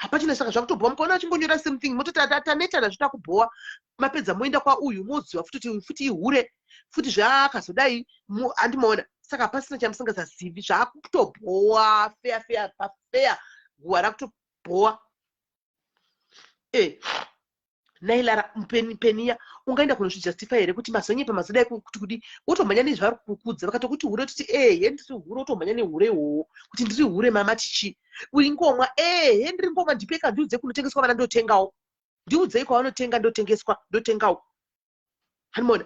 hapachina saka zvakutobhowa mukaona achingonyora same thing mototi atanetana zvita kubhowa mapedza moenda kwauyu moziva futi kuti futi ihure futi zvaakazodai andimaona saka hapasina chamusingasazivi zvaakutobhowa feya feya pafeya guwa rakutobhowa eh nailara mpeni peniya ungaenda kunozvijustify here kuti mazonyepa mazoda kuti kudi wotomhanya nezvaari kukudza vakatokuti hure toti ehe eh, ndiri hure wotomhanya nehure ihoho kuti ndiri hure mama tichi uingomwa ehe eh, ndiri ngomwa ndipeka ndiudze kunotengeswa vana ndotengawo ndiudzei kwavanotenga ndotengeswa ndotengawo Hanimona,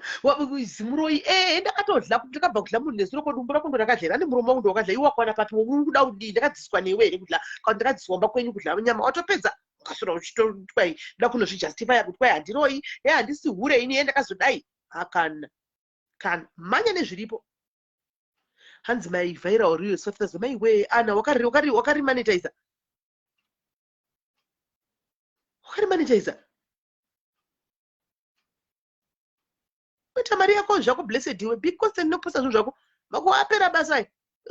zimuroyi, ee, eh, ndakatodla, ndakabva kudla munhu nezuro, ko dumbu rako ndo rakadla here, ane muromo wangu ndowakadla, iwe wakwana papi, uri kuda kudii, ndakadziswa newe here kudla, kana ndakadziswa mba kwenyu kudla nyama, watopedza ukasura uchitotwai, nda kunozvijustifya kuti kwai handiroyi, he handisi hure ini, he ndakazodai, hakana, kana, manya nezviripo, hanzi mai vhaira uriyo softaza mai wee ana wakarimanitiza wakarimanitiza kuita mari yako zvako blessed iwe because ndinoposa zvinhu zvako vakuapera basa i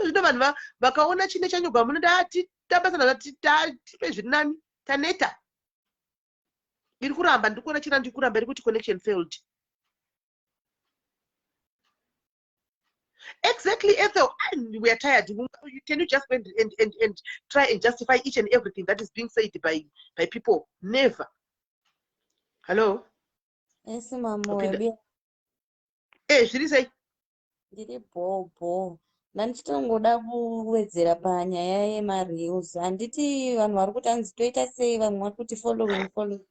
zvino vanhu vakaona chine chanyuka munoda ati tabasa nana tipe zviri nani taneta iri kuramba ndiri kuona chirandi kuramba iri kuti connection failed Exactly, Ethel. And we are tired. Can you just and, and, and, and try and justify each and everything that is being said by, by people? Never. Hello? Yes, Mama. Okay. Eh, zviri sei? Ndiri bho bho. Ndanditongoda kuwedzera panyaya yemareels. Handiti vanhu vari kuti hanzi toita sei vamwe vari kuti following following.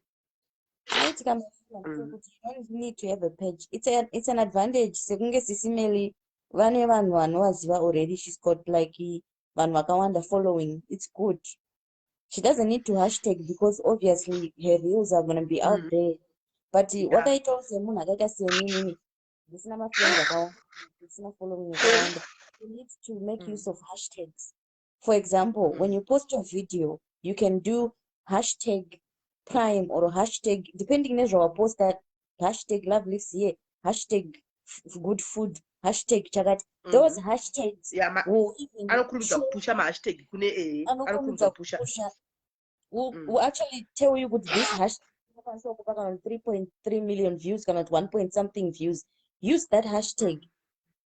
Right, come mm. you need to have a page. It's a it's an advantage. Sekunge sisi Meli vane vanhu vanovaziva already. She's got like vanhu vakawanda following. It's good. She doesn't need to hashtag because obviously her reels are gonna be out mm. there. But yeah. wakaitawo semunhu akaita seinini ndisina mafriends akawanda ndisina following akawanda. You need to make mm. use of hashtags. for example mm. when you post your video you can do hashtag prime or hashtag depending nezvawaposta hashtag love lives here hashtag good food hashtag chakati mm. those hashtags anokurumidza kupusha mahashtag kune ee eh, anokurumidza kupusha will, mm. will actually tell you kuti this hashtag inokwanisa kupa kana 3.3 million views kana kuti 1 point something views use that hashtag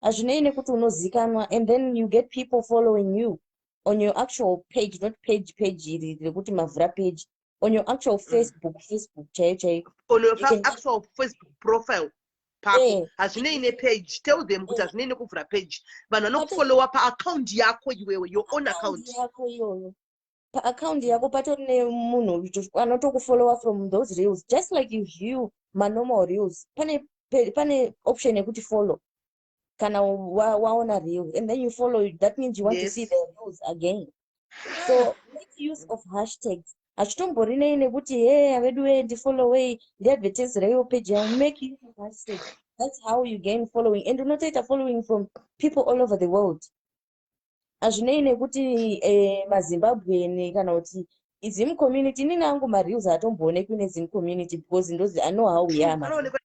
hazvinei nekuti unozikanwa and then you get people following you on your actual page not page page iri rekuti mavhura page on your actual mm. facebook facebook chaiyo chaiyo on your actual facebook profile pako eh. hazvinei nepage tell them kuti eh. hazvinei nekuvhura page vanhu vanokufollowa paaccount yako iwewe your own account yako iyoyo paaccount yako patori nemunhu anotokufollowa from those reels just like you view manormal reels pane pane option yekuti follow kana waona reel and then you follow it that means you want yes. to see the reels again so make use of hashtags hachitomborinei nekuti he aveduwe ndifollowei ndiadvertise reiwo page yao make use of hashtags that's how you gain following and unotoita following from people all over the world hazvinei nekuti eh, mazimbabwean kana kuti izim community inini angu mareels atomboonekwi nezim community because ndozi i know how we are anoonekwa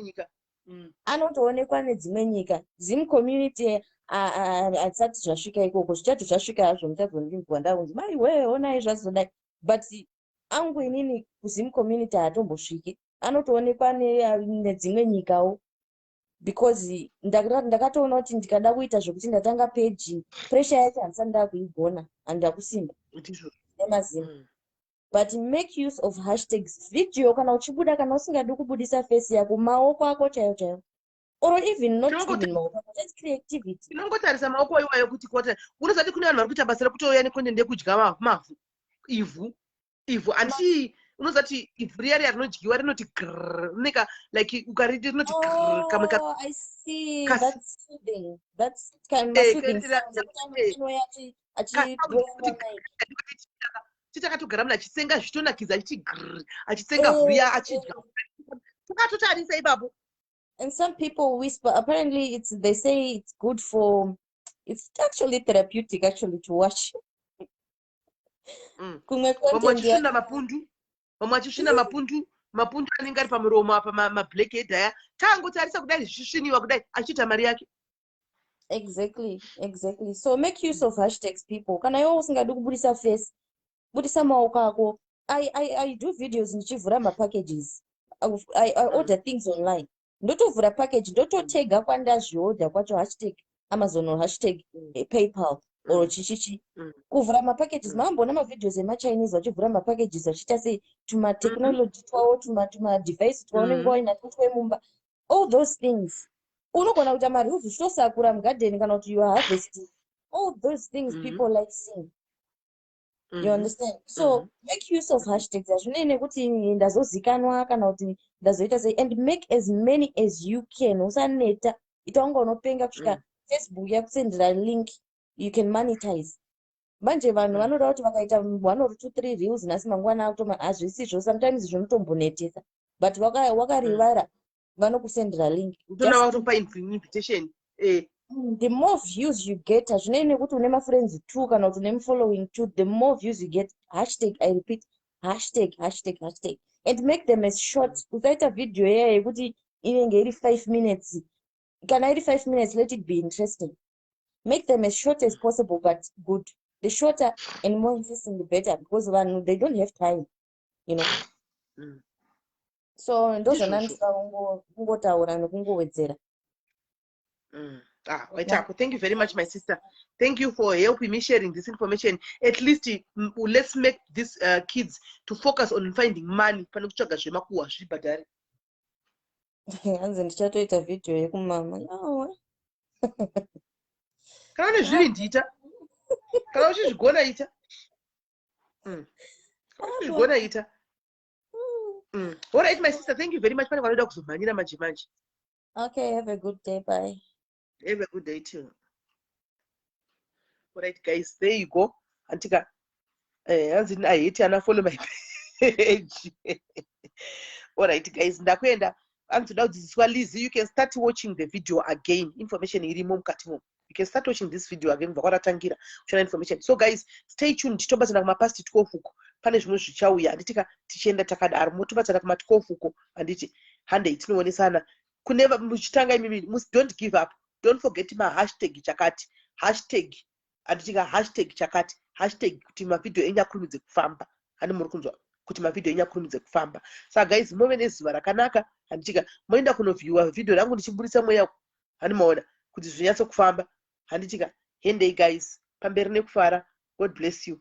nyika Mm. anotoonekwa nedzimwe nyika zim community a- a- hatisati zvasvika ikoko zvichati zvasvika hazvo muchazondinzwa ndakunzi mai wee onai zvazodai but angu inini kuzim community haatombosviki anotoonekwa ne- nedzimwe nyikawo because ndakatoona kuti ndikada kuita zvekuti ndatanga paging pressure yacho handisati ndakuigona and ndakusimba nemazimo mm. but make use of hashtags video kana uchibuda kana usingadi kubudisa face yako maoko ako chaiyo chaiyo or even not even maoko ako just creativity inongotarisa maoko iwayo kuti kota unozati kune vanhu vari kuita basa rekutouya nekonde ndekudya mavhu ivhu ivhu anditi unozati ivhu riya riya rinodyiwa rinoti grr rineka like ukariti rinoti grr kamwe ka Oh, I see. Kas- That's feeding. That's kind of Eh, feeding. kuitira- Sometimes eh. chinouya achi- achi- Kas- kuti- titakatogara munhu achisenga zvitonakidza achiti grr achisenga Eh, vhuya achidya takatotarisa ipapo And some people whisper. Apparently, it's they say it's good for. It's actually therapeutic, actually, to watch. mm. kumwe vamwe vachisvina mapundu vamwe vachisvina mapundu mapundu anenge ari pamuromo apa mablack head aya taangotarisa kudai zvichisviniwa kudai achiita mari yake exactly exactly so make use of hashtags people kana iwe usingadi kubudisa face budisa maoko ako I, I, I do videos ndichivhura mapackages I, I, I mm. order things online ndotovhura package ndototega kwandazviodha kwacho hashtag amazon or hashtag mm. eh, paypal or mm. chichichi mm. kuvhura mapackages maamboona mavideos emachinese vachivhura mapackages vachiita sei tumatechnology twavo tumadevice twaunenge wainatwo twemumba all those things unogona kuita marules uchitosakura mugadheni kana kuti youare harvesting all those things people like seeing you mm-hmm. understand so mm-hmm. make use of hashtags hazvinei nekuti ndazozikanwa kana kuti ndazoita sei and make as many as you can usaneta ita unga unopenga kusvika mm. facebook yakusendera link you can monetize manje vanhu mm. vanoda kuti vakaita one or two three reels nhasi mangwana akutoma hazvisizvo sometimes zvinotombonetesa but wakarivara waka vanokusendera link utoona vakutokupa invitation eh mm, the more views you get hazvinei nekuti une mafriends two kana kuti une mufollowing two the more views you get hashtag i repeat hashtag hashtag hashtag and make them as short usaita video yaya yekuti inenge iri five minutes kana iri five minutes let it be interesting make them as short as possible but good the shorter and more interesting the better because vanhu they don't have time you know mm. so ndozvona ndisva kungotaura nekungowedzera mm. Ah, Waitako, thank you very much, my sister. Thank you for helping me sharing this information. At least mm, let's make these uh, kids to focus on finding money pane kutsvaga zvemakuwa zvibhadhare. Hanzi ndichatoita video yekumama. No. Kana une zviri ndiita. Kana uchizvigona ita. mm. zvaigona ita mm. all right my sister thank you very much pane vanoda kuzomhanyira manje manje okay have a good day bye have a good day too all right guys there you go antika eh, hanzi uh, i hate ana follow my page all right guys ndakuenda anzi toda kudzidziswa lizy you can start watching the video again information irimo mukati momo you can start watching this video again kubva kwatatangira kuchona information so guys stay tuned titombatsana kumapast 12 uko pane zvimwe zvichauya handiti ka tichienda takadaro motobatsana kuma 12 uko handiti handei tinoonesana kune muchitanga imimi don't give up don't forget mahashtag chakati hashtag handiti ka hashtag chakati hashtag kuti mavhidhiyo enyu akurumidze kufamba handi muri kunzwa kuti mavhidhiyo enyu akurumidze kufamba saka guys move nezuva rakanaka handitika moenda kunovhiyuwa vhidhiyo rangu ndichiburitsa mweya hani maona kuti zvinyatsokufamba handitika hendei guys pamberi nekufara god bless you